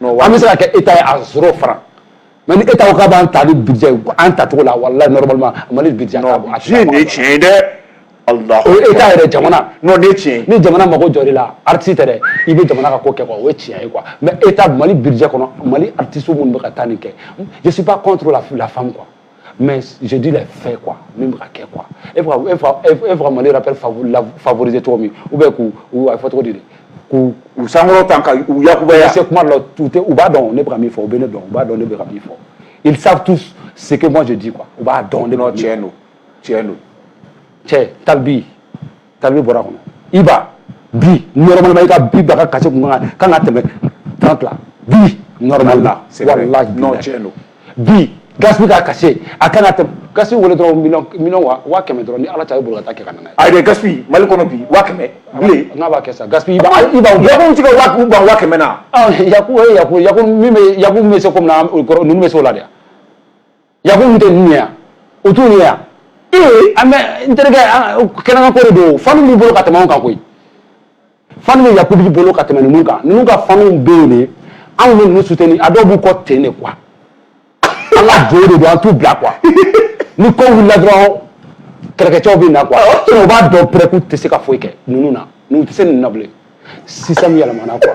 An bɛ se ka kɛ e ta ye a sɔrɔ fara mɛ e ta ka b'an ta ni bi an ta cogo la wala la mali bi tiɲɛ ye dɛ e t'a yɛrɛ jamana tiɲɛ ni jamana mako jɔ de la ati tɛ i bɛ jamana ka ko kɛ o tiɲɛ ye kuwa mɛ e ta mali biri kɔnɔ mali atiso minnu bɛ ka taa nin kɛ jisiba kɔntu la fila fan kuwa mais je dis les faits quoi min bɛ ka kɛ quoi e bɛ ka e fa e bɛ ka mali rappeur favoriser cogo min ou bien k'u u a bɛ fɔ cogo di de k'u u sankɔrɔta ka u yakubaya se kuma dɔ la u tɛ u b'a dɔn ne bɛ ka min fɔ u bɛ ne dɔn u b'a dɔn ne bɛ ka min fɔ ils savent tous ce que moi je dis quoi u b'a dɔn ne bɛ ka min fɔ tiɲɛ don tiɲɛ don cɛ Tal B ka bɔra kɔnɔ Iba bi normalement i ka bi Iba ka cachet tun ka kan ka tɛmɛ 30 la bi normalement wallahi bi Gaspi ka cachet a ka kan ka tɛmɛ Gaspi wele dɔrɔn million waa waa kɛmɛ dɔrɔn ni ala ta i bolo ka kɛ ka a yɛrɛ Gaspi mali kɔnɔ bi waa kɛmɛ bilen n'a b'a kɛ sa Gaspi Iba Yaku tigɛ waa k'u ban waa kɛmɛ na Yaku ya ya min bɛ ya bɛ se comme ninnu bɛ se o la dɛ Yaku tɛ ninnu ye yan o t'u ye yan ee an bɛ n terikɛ kɛnɛkan ko de don fan b'i bolo ka tɛmɛ anw kan koyi fan bɛ Yakubu bolo ka tɛmɛ ninnu kan ninnu ka fanw bɛ yen de anw bɛ ninnu soutenir a dɔw b'u kɔ ten de quoi an ka jo de don an t'u bila quoi ni ko wulila dɔrɔn kɛlɛkɛcɛw bɛ na quoi o b'a dɔn pɛrɛ k'u tɛ se ka foyi kɛ ninnu na ninnu tɛ se ninnu na bilen système yɛlɛmana quoi.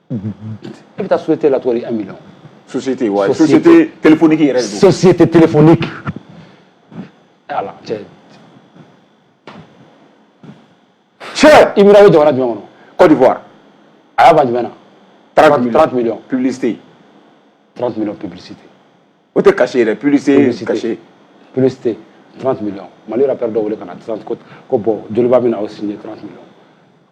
e bɛ taa société la cogo di un million société wa société téléphonique yɛrɛ de don société téléphonique ala cɛ cɛ Himra bɛ jamana jumɛn kɔnɔ Côte d'Ivoire a y'a ban jumɛn na 30 millions 30 millions publicité 30 millions publicité o tɛ cachet yɛrɛ publicité cachet publicité 30 millions mali rappeur dɔ wele ka na 30 ko ko bon joliba bɛna o signer 30 millions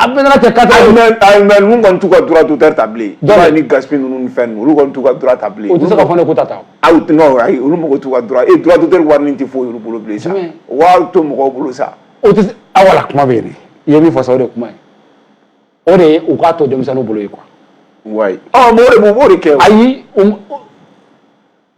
A bɛ kɛ ka taa ninnu kɔni t'u ka droit d'auteur ta bilen dɔw ni Gaspi ninnu ni fɛn olu kɔni t'u ka droit ta bilen u tɛ se ka fɔ ko ta taa aw tɛ olu mako t'u ka droit e droit d'auteur wari nin tɛ foyi olu bolo bilen sa wari to mɔgɔw bolo sa o tɛ aw voilà kuma bɛ yen i ye min fɔ sa o de ye kuma ye o de ye u k'a to denmisɛnninw bolo ye quoi wa mori b' de kɛ ayi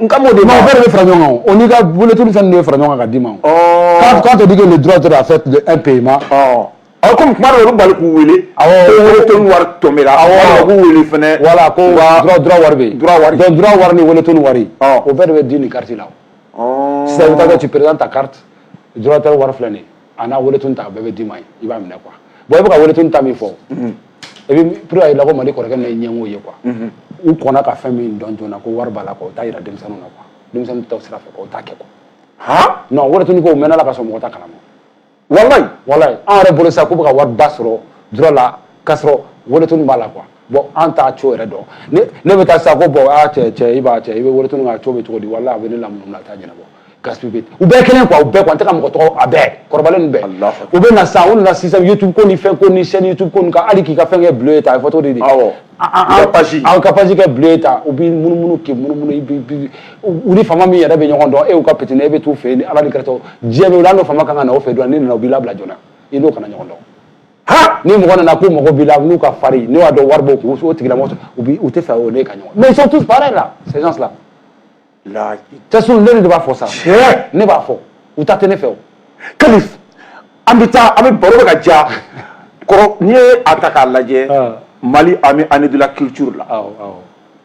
N ka bɛ fara ɲɔgɔn o n'i ka bolotu fɛn de ye fara ɲɔgɔn ka d dii ma k'a to dike nin du dɔrɔn a fɛ tun e pe ma a kɔmi tuma olu bali k'u wele wari to min wele fana wala ko wari wari ni weele to wari o bɛɛ de bɛ di ni kari la sɛ tɛ ci pered ta kari tɛ wari filɛ nin a n'a weletɔn ta bɛɛ bɛ d'i ma i b'a minɛ quoi bon i bɛ ka weletɔn ta min fɔ et puis pour a yira ko mali kɔrɔkɛ nin ye ɲɛngo ye quoi u kɔnna ka fɛn min dɔn joona ko wari b'a la quoi u t'a jira denmisɛnninw na quoi denmisɛnninw ta sira fɛ quoi u t'a kɛ quoi non weletɔn ko mɛnna ka sɔrɔ mɔgɔ t'a kalama wallahi wallahi an yɛrɛ bolo sa k'u bɛ ka wari ba sɔrɔ droit la k'a sɔrɔ weletɔn b'a la quoi bon an t'a co yɛrɛ dɔn ne bɛ taa sa ko bon a cɛ cɛ i b'a cɛ i bɛ Wele Tone ka co bɛ cogo di walayi a bɛ ne lamunumunu a t'a ɲɛnabɔ Gaspi u bɛɛ kelen quoi u bɛɛ quoi an tɛ ka mɔgɔ tɔgɔ a bɛɛ kɔrɔbalen bɛɛ u bɛ na sa u nana sisan youtube ko ni fɛn ko ni chaîne youtube ko ka hali k'i ka fɛn kɛ bleu ye ta a ye photo de di an ka page kɛ bleu ye ta u b'i munumunu k'i munumunu u ni faama min yɛrɛ bɛ ɲɔgɔn dɔn e ka pitini e bɛ t'u fɛ yen ni ala ni kɛrɛtɔ diɲɛ bɛ u n'o faama kan ka na o fɛ dɔrɔn n'i nana u b'i labila joona i n'o kana ɲɔgɔn dɔn ha ni mɔgɔ nana k'u mago b'i la n'u ka farin n'u y'a dɔn wari b'o kun o tigilamɔgɔ u bi u tɛ fɛ o ne ka ɲɔgɔn mais ils sont tous pareils là ces gens là cɛ ne de b'a fɔ sa ne b'a fɔ u ta tɛ ne fɛ o Kalifu an bɛ taa an bɛ baro bɛ ka ja kɔrɔ n'i ye a ta k'a lajɛ ah. Mali a mis année de la culture là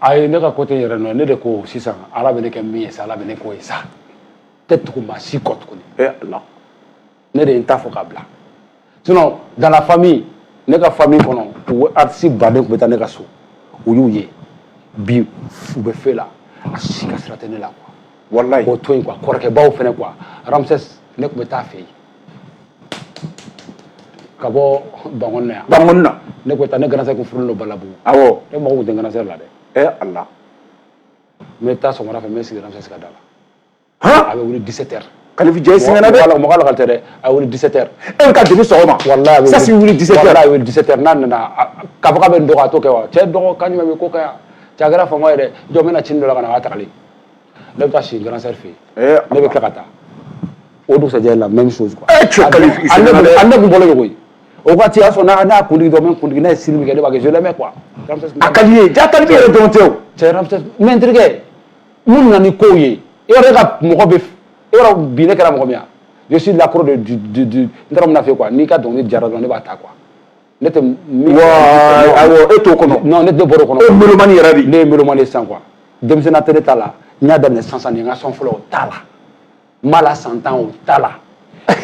ayi ne ka côté yɛrɛ nɔ ne de ko sisan ala bɛ ne kɛ min ye sa ala bɛ ne k'o ye sa tɛ tugu maa si kɔ tuguni e ala ne de ye n ta fɔ ka bila sinon dans la famille ne ka famille kɔnɔ u artiste baden tun bɛ taa ne ka so u y'u ye bi u bɛ fe la a si ka sira tɛ ne la quoi walayi o to yen quoi kɔrɔkɛbaw fɛnɛ quoi Ramsès ne tun bɛ taa fɛ yen ka bɔ Bankɔni na yan. Bankɔni na. Ne ko taa ne grand sœur kun furulen don Balabugu. Awɔ. Ne mago kun tɛ grand sœur la dɛ. Ɛ Ala. N bɛ taa sɔgɔmada fɛ n bɛ sigi Ramsès ka da la. Han! A bɛ wuli 17 heures. Kalifu cɛ i sɛgɛnna dɛ. Mɔgɔ mɔgɔ lakali tɛ dɛ. A bɛ wuli 17 heures. E bɛ ka depuis sɔgɔma. Walayi a bɛ wuli. Sasi wuli 17 heures. Walayi a bɛ wuli 17 heures n'a nana k'a fɔ k'a bɛ n dɔgɔ a t'o kɛ wa? Cɛ dɔgɔ kan jumɛn bɛ ko kan yan? Cɛ a kɛra faama ye dɛ. Jɔ n bɛna cin dɔ la ka na a b'a tagali. ne bɛ taa si grand sœur fɛ yen ne bɛ tila ka taa o dugusajɛ la même chose quoi an ne kun bɔlen de koyi o waati y'a sɔrɔ n'a y'a kundigi dɔrɔn n bɛ kundigi n'a ye style min kɛ ne b'a kɛ je l'aimais quoi a ka di n ye ja ka di yɛrɛ dɔrɔn tɛ o cɛ Ramsès mais n terikɛ mun nana ni kow ye e yɛrɛ ka mɔgɔ bɛ e yɛrɛ bi ne kɛra mɔgɔ min ye je suis l'accro de du du du n taara mun na fɛ quoi n'i ka dɔnkili diyara dɔrɔn ne b'a ta quoi ne tɛ e t'o kɔnɔ non ne tɛ bɔr'o kɔnɔ e mélomane yɛrɛ de ne ye mélomane ye sisan quoi denmisɛnninya tɛ ne ta la n y'a daminɛ sisan sisan nin n ka son fɔlɔ o t'a la n b'a la san tan o t'a la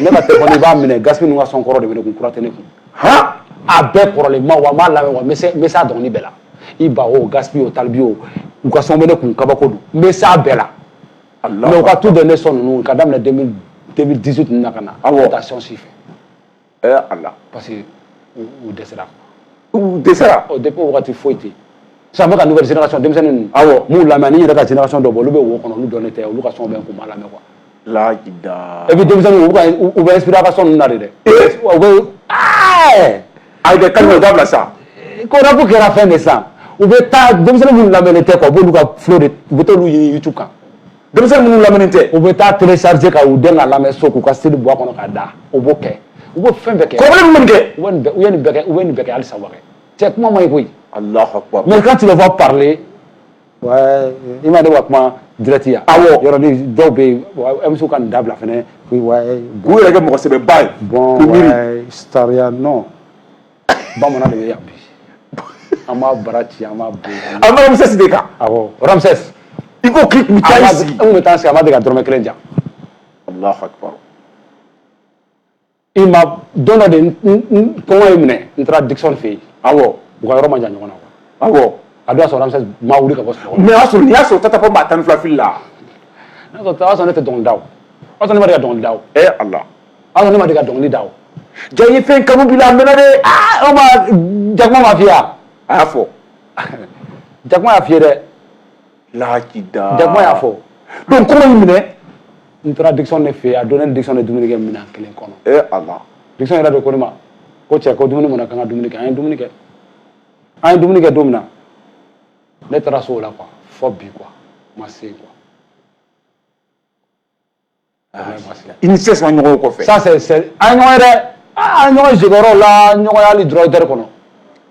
ne ka telefɔni i b'a minɛ Gaspi ninnu ka son kɔrɔ de bɛ ne kun kura tɛ ne kun han a bɛɛ kɔrɔlen ma wa n b'a lamɛn wa n bɛ se n bɛ s'a dɔnkili bɛɛ la Iba o Gaspi o Tal B o u ka son bɛ ne kun kabako don n bɛ s'a bɛɛ la mais u ka tout dernier son ninnu ka daminɛ 2018 ninnu na ka na ka taa son si fɛ Ɛ Ala parce que u dɛsɛra u dɛsɛra ɔ depuis o wagati foyi tɛ sisan n bɛ ka nouvelle génération denmisɛnnin ninnu awɔ n b'u lamɛn n yɛrɛ ka génération dɔ bɔ olu bɛ wo kɔnɔ olu dɔnnen tɛ olu ka son bɛ n kun n b'a lamɛn quoi lajida et puis denmisɛnninw u ka u bɛ inspirer ka son ninnu na de dɛ u bɛ ɛɛ ayi dɛ Kalifu dabila sa ko rap kɛra fɛn de san u bɛ taa denmisɛnnin minnu lamɛnnen tɛ quoi u b'olu ka flow de u bɛ t'olu ɲini youtube kan denmisɛnnin minnu lamɛnnen tɛ u bɛ taa télécharger ka u den ka lamɛn so k'u ka CD bɔ a kɔnɔ ka da u b'o kɛ u b'o fɛn bɛɛ kɛ kɔrɔbalen minnu kɛ u bɛ nin bɛɛ u ye nin bɛɛ kɛ u bɛ nin bɛɛ kɛ halisa u b'a kɛ cɛ kuma man ɲi koyi Allahu akbar mais quand tu le vois parler ouais i ma ne ka kuma direct yan awɔ yɔrɔnin dɔw bɛ yen MCw ka nin dabila fɛnɛ k'u yɛrɛ kɛ mɔgɔ sɛbɛba ye bon sariya non bamanan de bɛ yan bi an b'a bara ci an b'a bɔ yen. an bɛ ramsès de kan. awɔ ramsès. i ko k'i tun bɛ taa i sigi. an tun bɛ taa sigi a ma deli ka dɔrɔmɛ kelen di an. alahu akibaru. i ma don dɔ de n kɔngɔ ye n minɛ n taara dickson fɛ yen. awɔ u ka yɔrɔ ma jan ɲɔgɔn na. awɔ a don y'a sɔrɔ ramsès ma wuli ka bɔ sunɔgɔ la. mɛ o y'a sɔrɔ nin y'a sɔrɔ tata pound b'a tan ni fila fili la. n'a sɔrɔ o y'a sɔrɔ ne tɛ dɔnkili da o. o y'a sɔrɔ ne ma deli ka dɔnkili da o. ee ala. awɔ ne ma deli ka dɔnkili da o ja i ye fɛn kanu bila a mɛnna dɛ aa o ma jakuma ma f'i ye wa a y'a fɔ jakuma y'a f'i ye dɛ lahaji da jakuma y'a fɔ donc kɔngɔ ye n minɛ n taara dickson de fɛ yen a don ne ni dickson de dumuni kɛ minɛn kelen kɔnɔ e ala dickson yɛrɛ de ko ne ma ko cɛ ko dumuni mɔna k'an ka dumuni kɛ an ye dumuni kɛ an ye dumuni kɛ don min na ne taara so o la quoi fo bi quoi ma se quoi i ni sès ma ɲɔgɔn kɔfɛ sa c'est c'est an ɲɔgɔn dɛ a ɲɔgɔn jigiyɔrɔ la ɲɔgɔn hali droit d'auteur kɔnɔ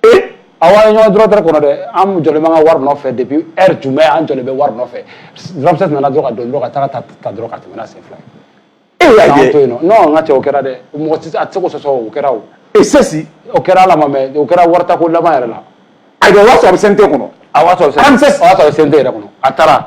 ee aw ye ɲɔgɔn ye droit d'auteur kɔnɔ dɛ an jɔlen b'an ka wari nɔfɛ depuis heure jumɛn an jɔlen bɛ wari nɔfɛ ramsès nana dɔrɔn ka don dɔrɔn ka taga ta ta dɔrɔn ka tɛmɛ n'a sen fila ye e y'a ye to yen non non n ka cɛ o kɛra dɛ mɔgɔ tɛ a tɛ se k'o sɔsɔ o kɛra o e sɛsi o kɛra ala ma mɛ o kɛra wari ta ko laban yɛrɛ la a bɛ wari sɔrɔ a bɛ sɛnte kɔnɔ a wari sɔrɔ a bɛ sɛnte yɛrɛ kɔnɔ a taara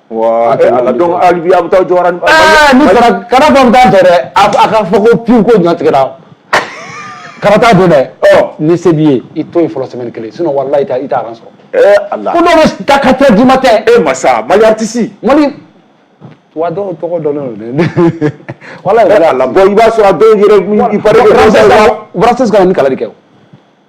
Wa ala donc hali bi aw bɛ taa jɔ ni kara bɛ taa tɛ dɛ a a ka fɔ ko paie ko ɲɔ tigɛra kana taa don dɛ ni se b'i ye i to yen fɔlɔ semaine kelen sinon walayi i t'a rang sɔrɔ ala dɔw bɛ taa quatre heures du matin masa mali artiste mali wa dɔw tɔgɔ dɔnnen don walayi ala i b'a sɔrɔ a dɔw yɛrɛ ka ni kalali kɛ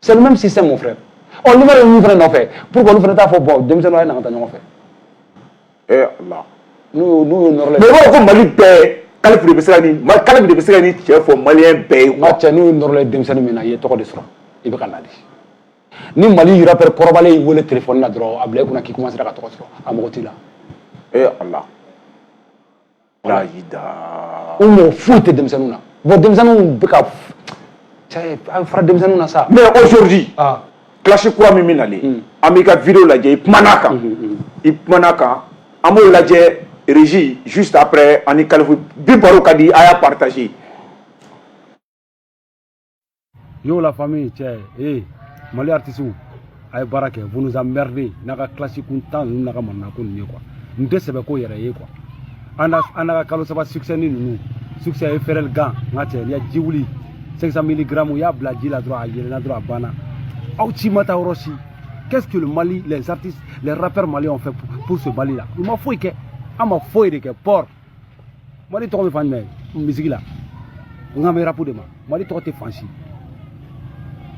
C'est le même système, mon frère. ɔ lumière bɛ minnu fɛnɛ nɔfɛ pourquoi olu fɛnɛ t'a fɔ bon denmisɛnninw a ye na an ka taa ɲɔgɔn fɛ. Eh, Allah. n'u ye nɔɔrɔ ye Mais b'a fɔ ko Mali bɛɛ, kalifu de bɛ se ka nin kalifu de bɛ se ka nin cɛn fɔ maliyɛn bɛɛ ye. n ka cɛ n'u ye nɔɔrɔ ye denmisɛnnin min na i ye tɔgɔ de sɔrɔ i bɛ ka na de ni mali rappeur kɔrɔbalen y'i wele telefɔni na dɔrɔn a bila i kunna k'i commencera ka tɔgɔ sɔrɔ a mago t'i la. ee ala. Da u mago foyi tɛ denmisɛnninw na bon denmisɛnninw bɛ fara denmisɛnninw na sa mais aujourd'hui classe kura min bɛ nalen an b'i ka vidéo lajɛ i kumana a kan i kumana a kan an b'o lajɛ régie juste après ani kalifu bi baro ka di a y'a partager Yo la famille cɛ ee mali artisiw a ye baara kɛ vous nous emmerdez n'a ka kilasi kuntan ninnu n'a ka manana ko ninnu ye quoi n tɛ sɛbɛ ko yɛrɛ ye quoi a n'a a n'a ka kalo saba succès ni ninnu succès Efferalgan n ka cɛ ya ji wuli 500 milligrammes i y'a bila ji la dɔrɔn a yeelenna dɔrɔn a banna aw si ma taa yɔrɔ si qu'est-ce que le Mali les artistes les rappeurs maliens ont fait pour, pour ce Mali là u ma foyi kɛ a ma foyi de kɛ port mali tɔgɔ bɛ fan jumɛn musique la n kan bɛ rapu de ma mali tɔgɔ tɛ fan si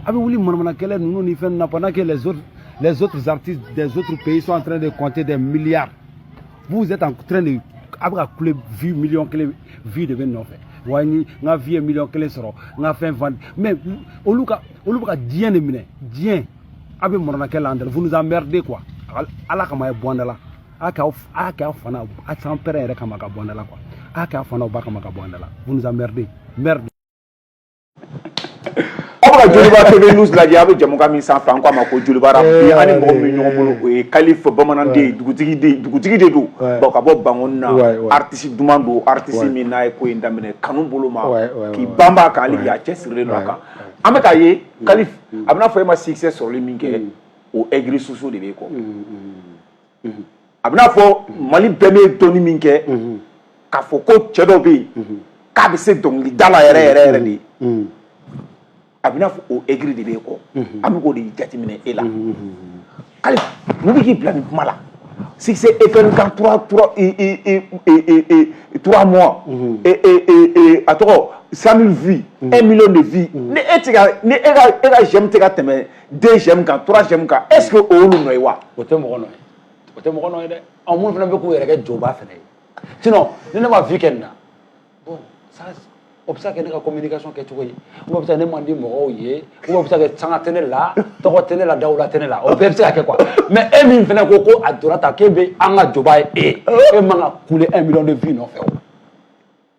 a bɛ wuli manamana kɛlɛ ninnu ni fɛn na pendant que les autres les autres artistes des autres pays sont en train de compter des milliards vous êtes en train de a bɛ ka kule vues miliyɔn kelen vues de bɛ nɔfɛ wa n ka vues ye miliyɔn kelen sɔrɔ n ka fɛn fan mais olu ka olu bɛ ka diɲɛ de minɛ diɲɛ a bɛ manamana kɛlɛ la yan dɛ vous nous emmerdez quoi ala kama a ye bɔ an da la a kɛ aw a kɛ aw fana a san pɛrɛn yɛrɛ kama ka bɔ an da la a kɛ aw fa n'a ba kama ka bɔ an da la vous nous emmerdez merde aw bɛ ka joliba tv news lajɛ aw bɛ jamukan min sanfɛ an ko a ma ko jolibara eh, bi an ni mɔgɔ min bɛ ɲɔgɔn bolo o ye kalifa bamanan den ye dugutigi den dugutigi de don bon ka bɔ bankoni na artiste duman don artiste min n'a ye ko in daminɛ kanu bolo ma k'i banban a kan hali bi a cɛsirilen don a kan an bɛ k'a ye kalifa a b'i n'a fɔ e ma succès sɔrɔli min kɛ mm. o aigri soso de b'i kɔ. Mm, mm. a b'i n'a fɔ mali bɛɛ m'e dɔnni min kɛ k'a fɔ ko cɛ dɔ bɛ yen k'a bɛ se dɔnkilida la yɛrɛ yɛrɛ yɛrɛ de a b'i n'a fɔ o aigri de b'i kɔ an bɛ k'o de jateminɛ e la kalifa mun bɛ k'i bila nin kuma la succès Efferalgan trois trois trois mois a tɔgɔ cent mille vues un million de vues ni e e ka j'aime tɛ ka tɛmɛ deux j'aime kan trois j'aime kan est ce que o y'olu nɔ ye wa o tɛ mɔgɔ nɔ ye o tɛ mɔgɔ nɔ ye dɛ ɔ minnu fana bɛ k'u yɛrɛ kɛ jɔba fana ye sinon ni ne ma vues kɛ nin na bon ça o bɛ se ka kɛ ne ka communication kɛ cogo ye o bɛ se ka ne man di mɔgɔw ye o bɛ se ka kɛ sanga tɛ ne la tɔgɔ tɛ ne la dawula tɛ ne la o bɛɛ bɛ se ka kɛ quoi mais e min fana ko ko a donna ta k'e bɛ an ka jɔba ye e e man ka kule un million de vues nɔfɛ o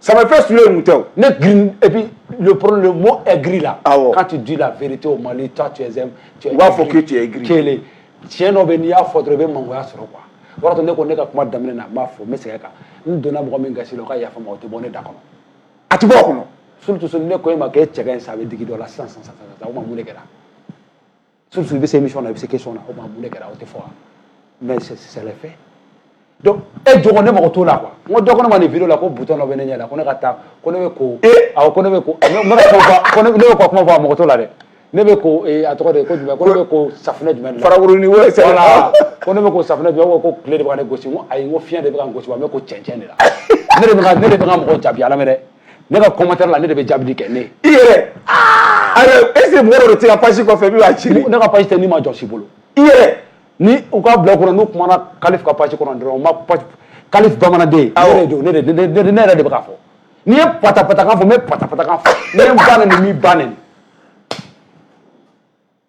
Samafɛ su ye tɛ ne gri le poro gri la k'a tɛ ji la feere tɛ o ma ta cɛ u b'a fɔ cɛ g kelen cɛ dɔ bɛ n'i y'a fɔ dɔrɔn i bɛ mangoya sɔrɔ kuwa o b'a sɔrɔ ne ko ne ka kuma daminɛ na b'a fɔ n bɛ se kan n donna mɔgɔ min kasi o ka yafa o tɛ bɔ ne da kɔnɔ a tɛ bɔ kɔnɔ ne ko e ma e cɛ in sa a bɛ digi dɔ la sisan san san ma mun kɛra surtout i bɛ se émission na i bɛ se question na o ma mun de kɛra o tɛ fɔ wa mais c'est c'est le fait donc e jogo ne mago t'o la quoi n ko dɔ ko ne ma nin video la ko butɔn dɔ bɛ ne ɲɛ la ko ne ka taa ko ne bɛ ko awɔ ko ne bɛ ko n bɛ ka kuma fɔ ko ne bɛ ka kuma fɔ a mago t'o la dɛ ne bɛ ko a tɔgɔ de ko jumɛn ko ne bɛ ko safunɛ jumɛn de la farakuruni wo sɛbɛn voilà ko ne bɛ ko safunɛ jumɛn ko tile de bɛ ka ne gosi n ko ayi n ko fiɲɛ de bɛ ka n gosi wa n bɛ ko cɛncɛn de la ne de bɛ ka ne de bɛ ka mɔgɔ jaabi ala mɛ dɛ ne ka commentaire la ne de bɛ jaabili kɛ ne i yɛrɛ ayiwa est ce que mɔgɔ dɔ de tɛ ka page kɔfɛ min b'a ci ne ka page tɛ nima jɔn si bolo i yɛrɛ ni u ka bila kɔnɔ n'u kumana kalifu ka page kɔnɔ dɔrɔn u ma page kalifu bamananden ne de don ne de ne yɛrɛ de bɛ k'a fɔ n'i ye patapatakan fɔ n bɛ patapatakan fɔ n'i ye n ba nɛni n b'i ba nɛni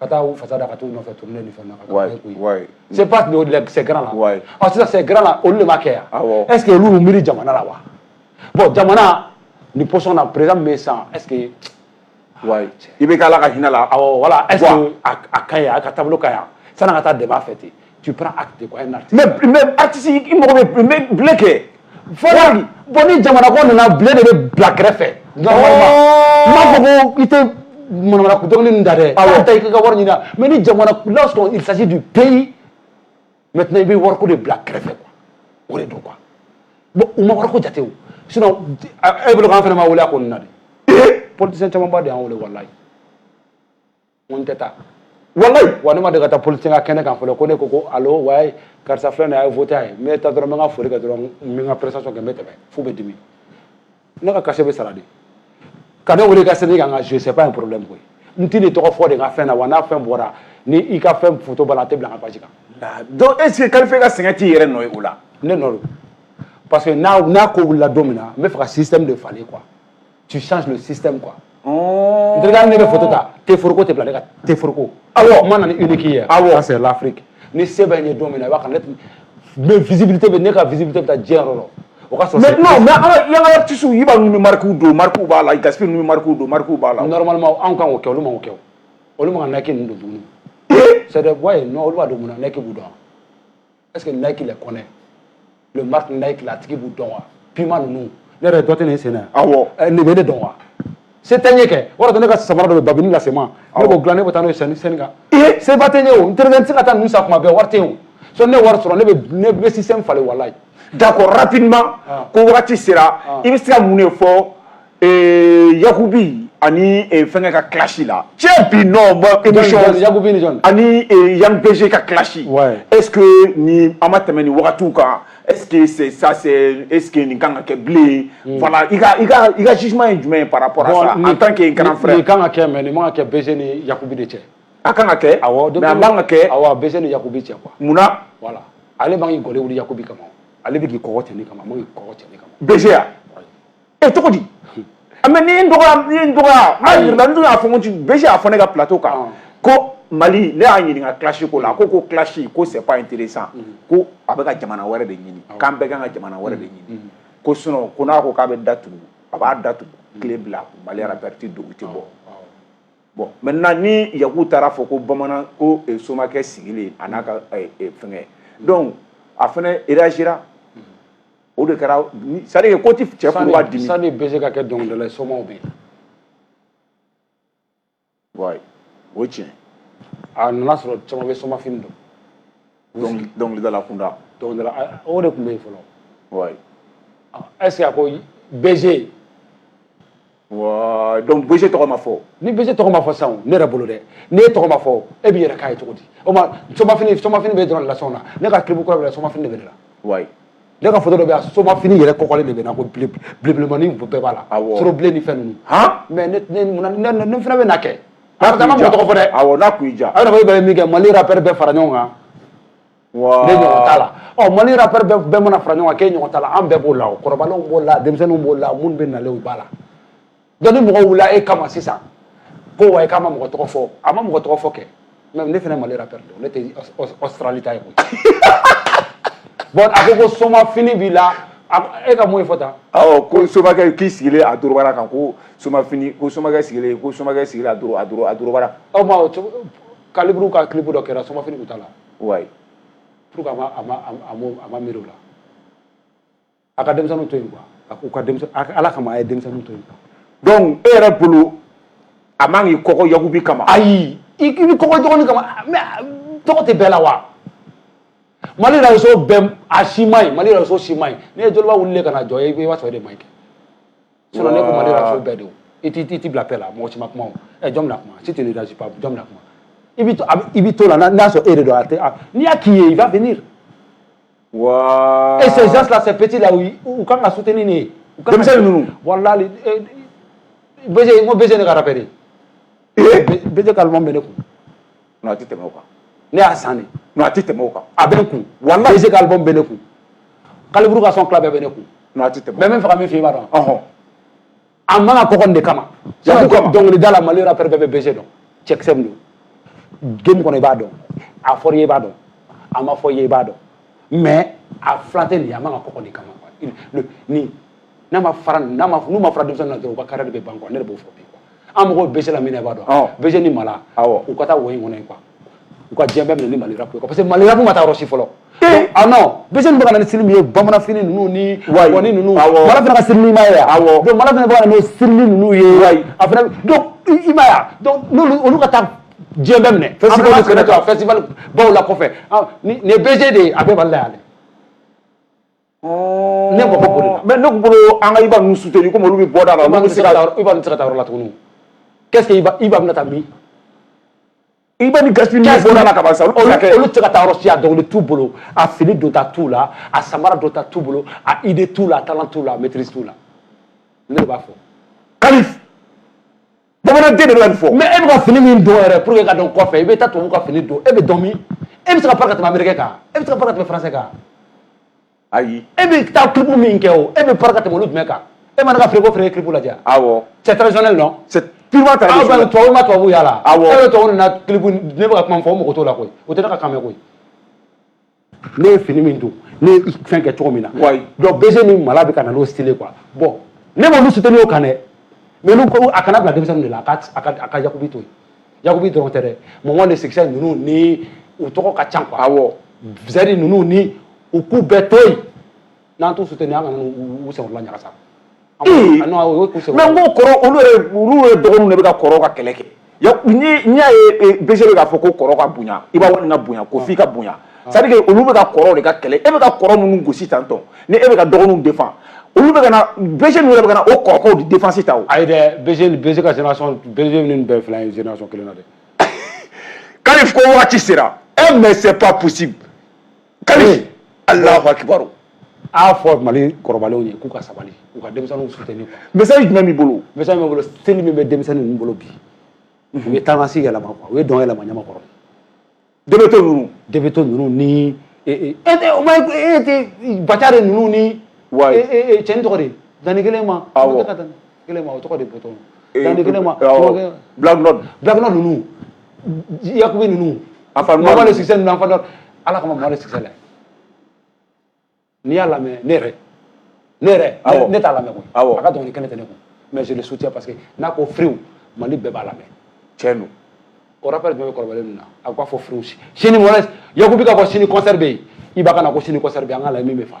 ka taa u fasa da ka t'u nɔfɛ tournée ni fɛn na ka taa koyi wayi c'est pas ces grands là wayi ɔ sisan ces grands là olu de ma kɛ yan awɔ est ce que olu y'u miiri jamana la wa bon jamana ni position na président min bɛ yen sisan est ce que wayi IBK ala ka hinɛ a la awɔ voilà est ce que a ka ɲi a ka taabolo ka ɲi sanni an ka taa dɛmɛ a fɛ ten tu prends acte quoi un artiste mais mais artiste i mago bɛ mais blé kɛ fɔlɔ bon ni jamana ko nana blé de bɛ bila kɛrɛfɛ normalement n b'a fɔ ko i tɛ manamana ko dɔnkili ninnu da dɛ awɔ ta i k'i ka wari ɲini mais ni jamana lorsqu'on il s'agit du pays maintenant i bɛ wariko de bila kɛrɛfɛ quoi o de don quoi bon u ma wariko jate o sinon e bolo k'an fana ma wele a ko nin na de politicien camanba de y'an wele walayi ko n tɛ taa walayi wa ne ma deli ka taa politicien ka kɛnɛ kan fɔlɔ ko ne ko ko alo wayi karisa filɛ nin a ye vote a ye n bɛ taa dɔrɔn n bɛ n ka foli kɛ dɔrɔn n bɛ n ka prestation kɛ n bɛ tɛmɛ f'u bɛ dimi ne ka cachet bɛ sara dɛ ka ne wele ka scène kan ka jouer c'est pas un problème koyi n t'i nin tɔgɔ fɔ dɛ n ka fɛn na wa n'a fɛn bɔra ni i ka fɛn foto b'a la a tɛ bila n ka page kan donc est ce que kalifu ka sɛgɛn t'i yɛrɛ nɔ ye o la ne nɔ don parce que n'a n'a ko wulila don min na n b'a fɛ ka système de falen quoi tu changes le système quoi. Oh. N terikɛ ne bɛ foto ta teforoko tɛ bila ne ka teforoko. Awɔ. N ma na ni Nike ye. Awɔ. Ça c'est l'Afrique. Ni se bɛ n ye don min na il va connaître mais visibilité bɛ ne ka visibilité bɛ taa diɲɛ yɔrɔ la. O ka sɔrɔ. Maintenant mais an ka yan ka artistes i b'a ninnu bɛ marques don marques b'a la Gaspi ninnu bɛ marques don marques b'a la. Normalement anw kan k'o kɛ olu man k'o kɛ o. Olu man kan ka Nike ninnu don tuguni. Ee. C'est des voix ye non olu b'a don mun na Nike b'u dɔn wa. est ce que Nike les connaît le marque Nike la tigi b'u dɔn wa Puma ninnu ne yɛrɛ dɔ tɛ nin sen na awɔ nin bɛ ne dɔn wa se tɛ n ye kɛ o de ne ka samara dɔ bɛ babini lase ma ne b'o dilan ne bɛ taa n'o ye scène scène kan seba tɛ n ye o n terikɛ n tɛ se ka taa ninnu san kuma bɛɛ wari tɛ yen o so ne wari sɔrɔ ne bɛ ne bɛ système falen walayi d'accord rapidement ko wagati sera i bɛ se ka mun de fɔ Ee yakubi ani fɛn ka kilasi la cɛ bi nɔn ani yan bɛse ka kilasi e ni an ma tɛmɛ ni wagatiw kan e sa e nin kan ka kɛ bilen i ka sisuma ye jumɛn ye pa an tan ke kan kan ka kɛ mɛ nin kɛ bɛse ni yakubi de cɛ a kan ka kɛ ka kɛ aw bɛ ni yakubi cɛ kuwa munna wala ale b'aɔri yakubi kama ale bɛ kɔɔgɔ tɛ kama kɔɔgɔ tɛ kama e cogo di mais ni n dɔgɔya ni n dɔgɔya n'a yirila n dun y'a fɔ n ko BG y'a fɔ ne ka plateau kan ko mali ne y'a ɲininka clash ko la a ko ko clash ko c'est pas intéressant ko a bɛ ka jamana wɛrɛ de ɲini k'an bɛɛ kan ka jamana wɛrɛ de ɲini ko sinon ko n'a ko k'a bɛ datugu a b'a datugu tile fila mali rapɛri tɛ don u tɛ bɔ bon maintenant ni yaku taara fɔ ko bamanan ko somakɛ sigilen a n'a ka fɛnkɛ donc a fana réagira o de kɛra c'est-à-dire ko tɛ cɛ kun b'a dimi sani BG ka kɛ dɔnkilidala ye somaw bɛ yen ouais o ye tiɲɛ a nana sɔrɔ caman bɛ soma fini don dɔnkilidala kunda dɔnkilidala o de tun bɛ yen fɔlɔ ouais est-ce que a ko BG ouais donc BG tɔgɔ ma fɔ ni BG tɔgɔ ma fɔ sisan ne yɛrɛ bolo dɛ n'e tɔgɔ ma fɔ e b'i yɛrɛ k'a ye cogo di o ma soma fini soma fini bɛ dɔrɔn lasɔn na ne ka clip kura bɛ la soma fini de bɛ ne la ouais ne ka foto dɔ bɛ yan soma fini yɛrɛ kɔkɔlen de bɛ na ko bile bilenmanin bɛɛ b'a la Awɔ. sɔrɔ bilen ni fɛn ninnu han mais ne ne mun na- ne ne- ne fana bɛ na kɛ n'a a bɛ taa ma kun mɔgɔ ja tɔgɔ fɔ dɛ awɔ n'a kun y'i ja aw yɛrɛ ko e bɛ min kɛ mali rapɛri bɛɛ fara ɲɔgɔn kan Wa ne ɲɔgɔn t'a la ɔ mali rapɛr bɛɛ mana fara ɲɔgɔn kan k'e ɲɔgɔn t'a la an bɛɛ b'o la o kɔrɔbalenw b'o la denmisɛnninw b'o la minnu bɛ nalen u b'a la donc ni mɔgɔ wulila e kama sisan ko wa k'a ma mɔgɔ tɔgɔ fɔ a ma mɔgɔ tɔgɔ fɔ kɛ mais ne fana mali rapɛr don ne tɛ Australie ta ye koyi bon a ko ko soma fini b'i la e ka mun ye fɔ tan awɔ ko somakɛ k'i sigilen a dɔrɔbara kan ko soma fini ko somakɛ sigilen ko somakɛ sigilen a dɔrɔbara aw ma kaliburu ka clip dɔ kɛra soma fini b'u ta la ouais pour que a ma a ma a ma a ma miiri o la a ka denmisɛnninw to yen quoi a k'u ka denmisɛn a- ala kama a ye denmisɛnninw to yen quoi donc e yɛrɛ bolo a man k'i kɔkɔ yakubi kama ayi i i bɛ kɔkɔ dɔgɔnin kama mais a- tɔgɔ tɛ bɛɛ la wa mali réseau bɛɛ a si man ɲi mali réseau si man ɲi ne ye joliba wulilen ka na jɔ i b'a sɔrɔ e de man ɲi kɛ sinɔn ne kuma ne ka fɛn bɛɛ de o i t'i t'i bila pɛ la mɔgɔ si ma kuma o ɛ jɔn bɛna kuma si tɛ ne da si pa jɔn bɛna kuma i bɛ to i bɛ to la n'a sɔrɔ e de don a tɛ a n'i y'a k'i ye i b'a venir. Wow. Et ces gens-là, ces petits-là, ou quand on a soutenu, ni. Comme ça, nous. Voilà, les. Baiser, moi, baiser, les carapéries. Et Baiser, calmement, mais les coups. a tɛ tɛmɛ o kan ne y'a san a tɛ tɛmɛ o kan a bɛ n kun wa BG k'album bɛ ne kun kaliburu ka son fila bɛɛ bɛ ne kun a tɛ tɛmɛ mais n b'a fɛ ka min f'i ye i b'a dɔn a man ka kɔkɔ de kama dɔnkilidala mali rapɛri bɛɛ bɛ BG dɔn cɛkisɛ min don game kɔnɔ i b'a dɔn a fɔra i ye i b'a dɔn a ma fɔ i ye i b'a dɔn mais a fila tɛ nin a man ka kɔkɔ de kama ni n'a ma fara n'u ma fara denmisɛnnin na dɔrɔn u ka carrière de bɛ ban quoi ne de b'o fɔ bi an mɔgɔw BG la min b'a dɔn BG ni mala u ka taa wo in kɔnɔ quoi u ka diɲɛ bɛɛ minɛ ni Mali rap quoi parce que Mali rap ma taa yɔrɔ si fɔlɔ ah non BG bɛ ka na ni style min ye bamanan fini ninnu ni wa ninnu mala fana ka style ye donc mala fana bɛ ka na ni style ninnu ye a i ma yan n'olu olu ka taa diɲɛ bɛɛ minɛ festival baw la kɔfɛ nin BG de ye a bɛɛ bali la yan dɛ Ne mako b'olu la mais ne tun bolo an ka Iba ninnu soutenir comme olu bɛ bɔ da la Iba tɛ se ka taa yɔrɔ la tuguni qu'est-ce que Iba bɛna taa min Iba ni Gaspi ninnu bɔ da la ka ban sa olu tɛ se ka taa yɔrɔ si a dɔnkili t'u bolo a fini donta t'u la a samara donta t'u bolo a idée t'u la a talent t'u la a maîtrise t'u la ne de b'a fɔ Kali bamanan den de bɛ nin fɔ mais e bɛ ka fini min don yɛrɛ pour que ka dɔn kɔfɛ i bɛ taa tubabu ka fini don e bɛ dɔn min e bɛ se ka pari ka tɛmɛ américain kan e bɛ se ka pari ka tɛmɛ français kan ayi e bɛ taa clip min kɛ o e bɛ pari ka tɛmɛ olu jumɛn kan e ma ne ka frigo feere clip lajɛ awɔ c'est traditionnel non c'est purement ah, traditionnel aw bɛ tubabu ma tubabu y'a la awɔ e bɛ tubabu nana clip ne bɛ ka kuma min fɔ o mɔgɔ t'o la koyi o tɛ ne ka kan mɛn koyi ne ye fini min don ne ye fɛn kɛ cogo min na donc BG ni mala bɛ ka na n'o style quoi bon ne m'olu soutenir o kan dɛ mais n'u ko a kana bila denmisɛnninw de la a ka a ka yakubi to yen yakubi dɔrɔn tɛ dɛ mama le succès ninnu ni u tɔgɔ ka ca quoi awɔ zɛri ninnu ni u k'u bɛɛ to yen n'an t'u soutenir an kana n'u u senkɔrɔla ɲagasa an b'o- ah, non, o ye k'u senkɔrɔla- mais n ko kɔrɔ olu yɛrɛ olu yɛrɛ dɔgɔninw de bɛ ka kɔrɔ ka kɛlɛ kɛ Ya- ni n'i y'a ye eh, BG bɛ k'a fɔ ko kɔrɔ ka bonya Iba One ka bonya ko f'i ka bonya c'est à dire que olu bɛ ka kɔrɔ de ka kɛlɛ e bɛ ka kɔrɔ minnu gosi tan tɔ ni e bɛ ka dɔgɔninw défendre olu bɛ ka na BG ninnu yɛrɛ bɛ ka na o kɔrɔkɛw de défense ta o ayi dɛ BG ni BG ka génération BG ni nin bɛɛ fila ye génération kelen na dɛ Kali ko waati sera e mais c'est pas possible Kali alahu akibaru a fɔ mali kɔrɔbalenw ye k'u ka sabali u ka denmisɛnninw soutenir quoi message jumɛn b'i bolo message b'i bolo style min bɛ denmisɛnnin ninnu bolo bi u ye taamasi yɛlɛma quoi u ye dɔn yɛlɛma Ɲamakɔrɔ debeto ninnu debeto ninnu ni o ma bacari ninnu ni cɛni tɔgɔ de danni kelen ma kelen ma o tɔgɔ de bɔtɔ danni kelen ma blacknod blacknod ninnu yakubi ninnu mama le succès ninnu anfadɔ ala kama mama le succès la n'i y'a lamɛn ne yɛrɛ ne yɛrɛ ne t'a lamɛn koyi a ka dɔnkili kelen tɛ ne kun mais je le soutiens parce que n'a ko friw mali bɛɛ b'a lamɛn tiɲɛ don o rappeur jumɛn bɛ kɔrɔbalen ninnu na a b'a fɔ friw sini mɔnɛ yakubi ka fɔ sini concert bɛ yen Iba ka na ko sini concert bɛ yen an k'a lajɛ min bɛ fa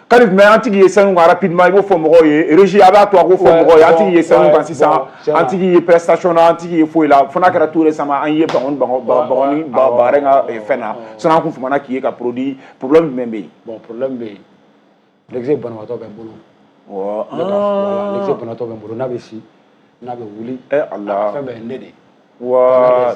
Kalif mais an tɛ k'i ye scène kan rapidement i b'o fɔ mɔgɔw ye régie a b'a to a k'o fɔ mɔgɔw ye an tɛ k'i ye scène kan sisan an tɛ k'i ye prestation na an tɛ k'i ye foyi la fo n'a kɛra tout récemment an ye bagɔni bagɔni bagare ka fɛn na sinon an kun famana k'i ye ka produit problème jumɛn bɛ yen bon problème bɛ yen lɛkisɛ banabaatɔ bɛ n bolo lɛkisɛ banabaatɔ bɛ n bolo n'a bɛ si n'a bɛ wuli fɛn bɛɛ ye ne de ye wa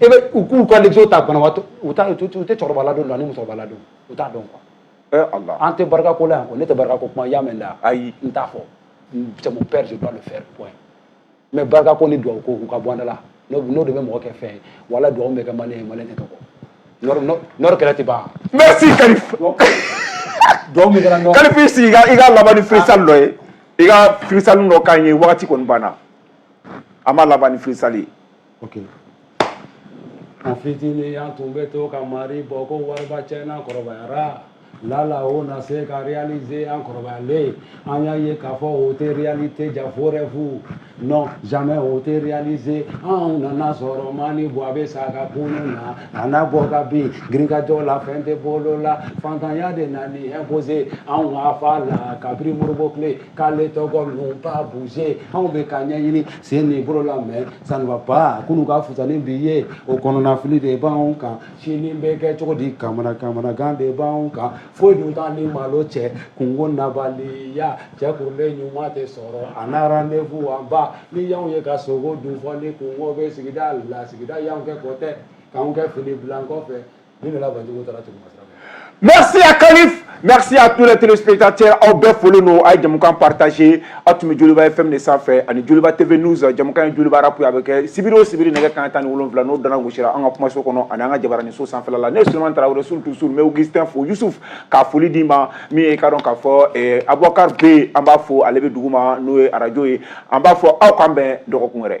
e bɛ u k'u ka lɛgɛso ta banabaatɔ u t'a u tɛ cɛkɔrɔba ladon ani musokɔrɔba ladon u t'a dɔn quoi. Eh Allah. An tɛ barika ko la yan quoi ne tɛ barika ko kuma y'a mɛn da ayi n t'a fɔ c'est mon père je dois le faire point mais barika ko ni dugawu ko u ka bɔ an da la n'o de bɛ mɔgɔ kɛ fɛn ye wala dugawu bɛ kɛ maliyɛn ye maliyɛn tɛ tɔgɔ Nord kɛlɛ tɛ ban. merci Kalif. dugawu min kɛra Nord. Kalif i sigi i ka laban ni freestyle dɔ ye i ka freestyle dɔ k'an ye wagati kɔni banna an b'a laban ni freestyle ye. ok an fitinin an tun bɛ to ka mari bɔ ko wariba cɛ n'an kɔrɔbayara lala o na se ka réaliser an kɔrɔbayalen an y'a ye k'a fɔ o tɛ réalité jaa faux rêve don jamais o tɛ réaliser anw nana sɔrɔ ma ni buwa bɛ sa ka kunun na a n'a bɔ ka bin girinkajɔ la fɛn tɛ bolo la fantanya de nan'i imposer anw ka fa la kabiri Modibo tile k'ale tɔgɔ nous pas bouger anw bɛ k'a ɲɛɲini sen ni bolo la mais ça ne va pas kunun ka fusa ni bi ye o kɔnɔnafili de b'anw kan sini bɛ kɛ cogo di kamana kamanagan de b'anw kan foyi dun t'an ni malo cɛ kunko ɲabaliya cɛ kunbɛ ɲuman tɛ sɔrɔ a na rendez-vous an ba n'i y'anw ye ka sogo dun fɔ ni kunko bɛ sigida la sigida y'anw kɛ côté k'anw kɛ fini bila an kɔfɛ Merci à Kalif merci à tous les téléspectateurs aw bɛɛ foli don a ye jamukan partager aw tun bɛ Joliba FM de sanfɛ ani Joliba TV News jamukan Joliba rapu a bɛ kɛ sibiri o sibiri nɛgɛ kan tan ni wolonwula n'o dana gosira an ka kumaso kɔnɔ ani an ka jabaranin so sanfɛ la ne Solomani Tarawele surtout sur mais Augustin fo Yusufu ka foli d'i ma min ye ka dɔn k'a fɔ Abubakari bɛ an b'a fɔ ale bɛ duguma n'o ye arajo ye an b'a fɔ aw k'an bɛn dɔgɔkun wɛrɛ